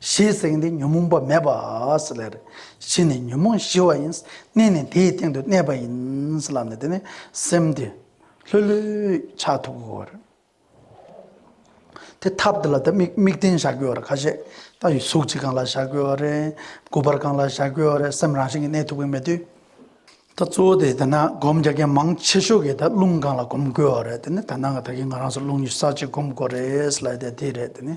Speaker 2: ཞེས་གསུངས་ཏེ་ཉོན་མོངས་པ་མེད་པའོ། ལར་ཕྱིན་ནས་ཉོན་མོངས་ཞི་བ་ཡིན། གནས་ནི་དེའི་སྟེང་དུ་གནས་པ་ཡིན། ལར་ནི་དེ་ནི་སེམས་དེ་ལྷོད་ལྷོད་ཆགས་ཐུག་གོ། དེ་ཐབས་འདི་ལ་དམིགས་རྟེན་བཞག་དགོས་བར་ཁ་ཤས་ལྟ་བཞིན་གཟུགས་གཅིག་གང་ལ་བཞག་དགོས་བ་རེད། དགུ་པར་གང་ལ་བཞག་དགོས་བ་རེད་སེམས་རང་བཞིན་གྱིས་གནས་ཐུག་གི་མེད་དུས། ད་གཙོ་བོ་དེ་ད་ནང་སྒོམ་རྒྱག་མཁན་མང་ཆེ་ཤོས་ཀྱིས་ད་རླུང་གང་ལ་སྒོམ་དགོས་བ་རེད་དེ་ནི་ད་ནང་གི་ད་གིན་ང་རང་སོ་རླུང་གི་ས་གཅིག་སྒོམ་དགོས་རེད་ལ་དེ་དེ་རེད་དེ་ནི།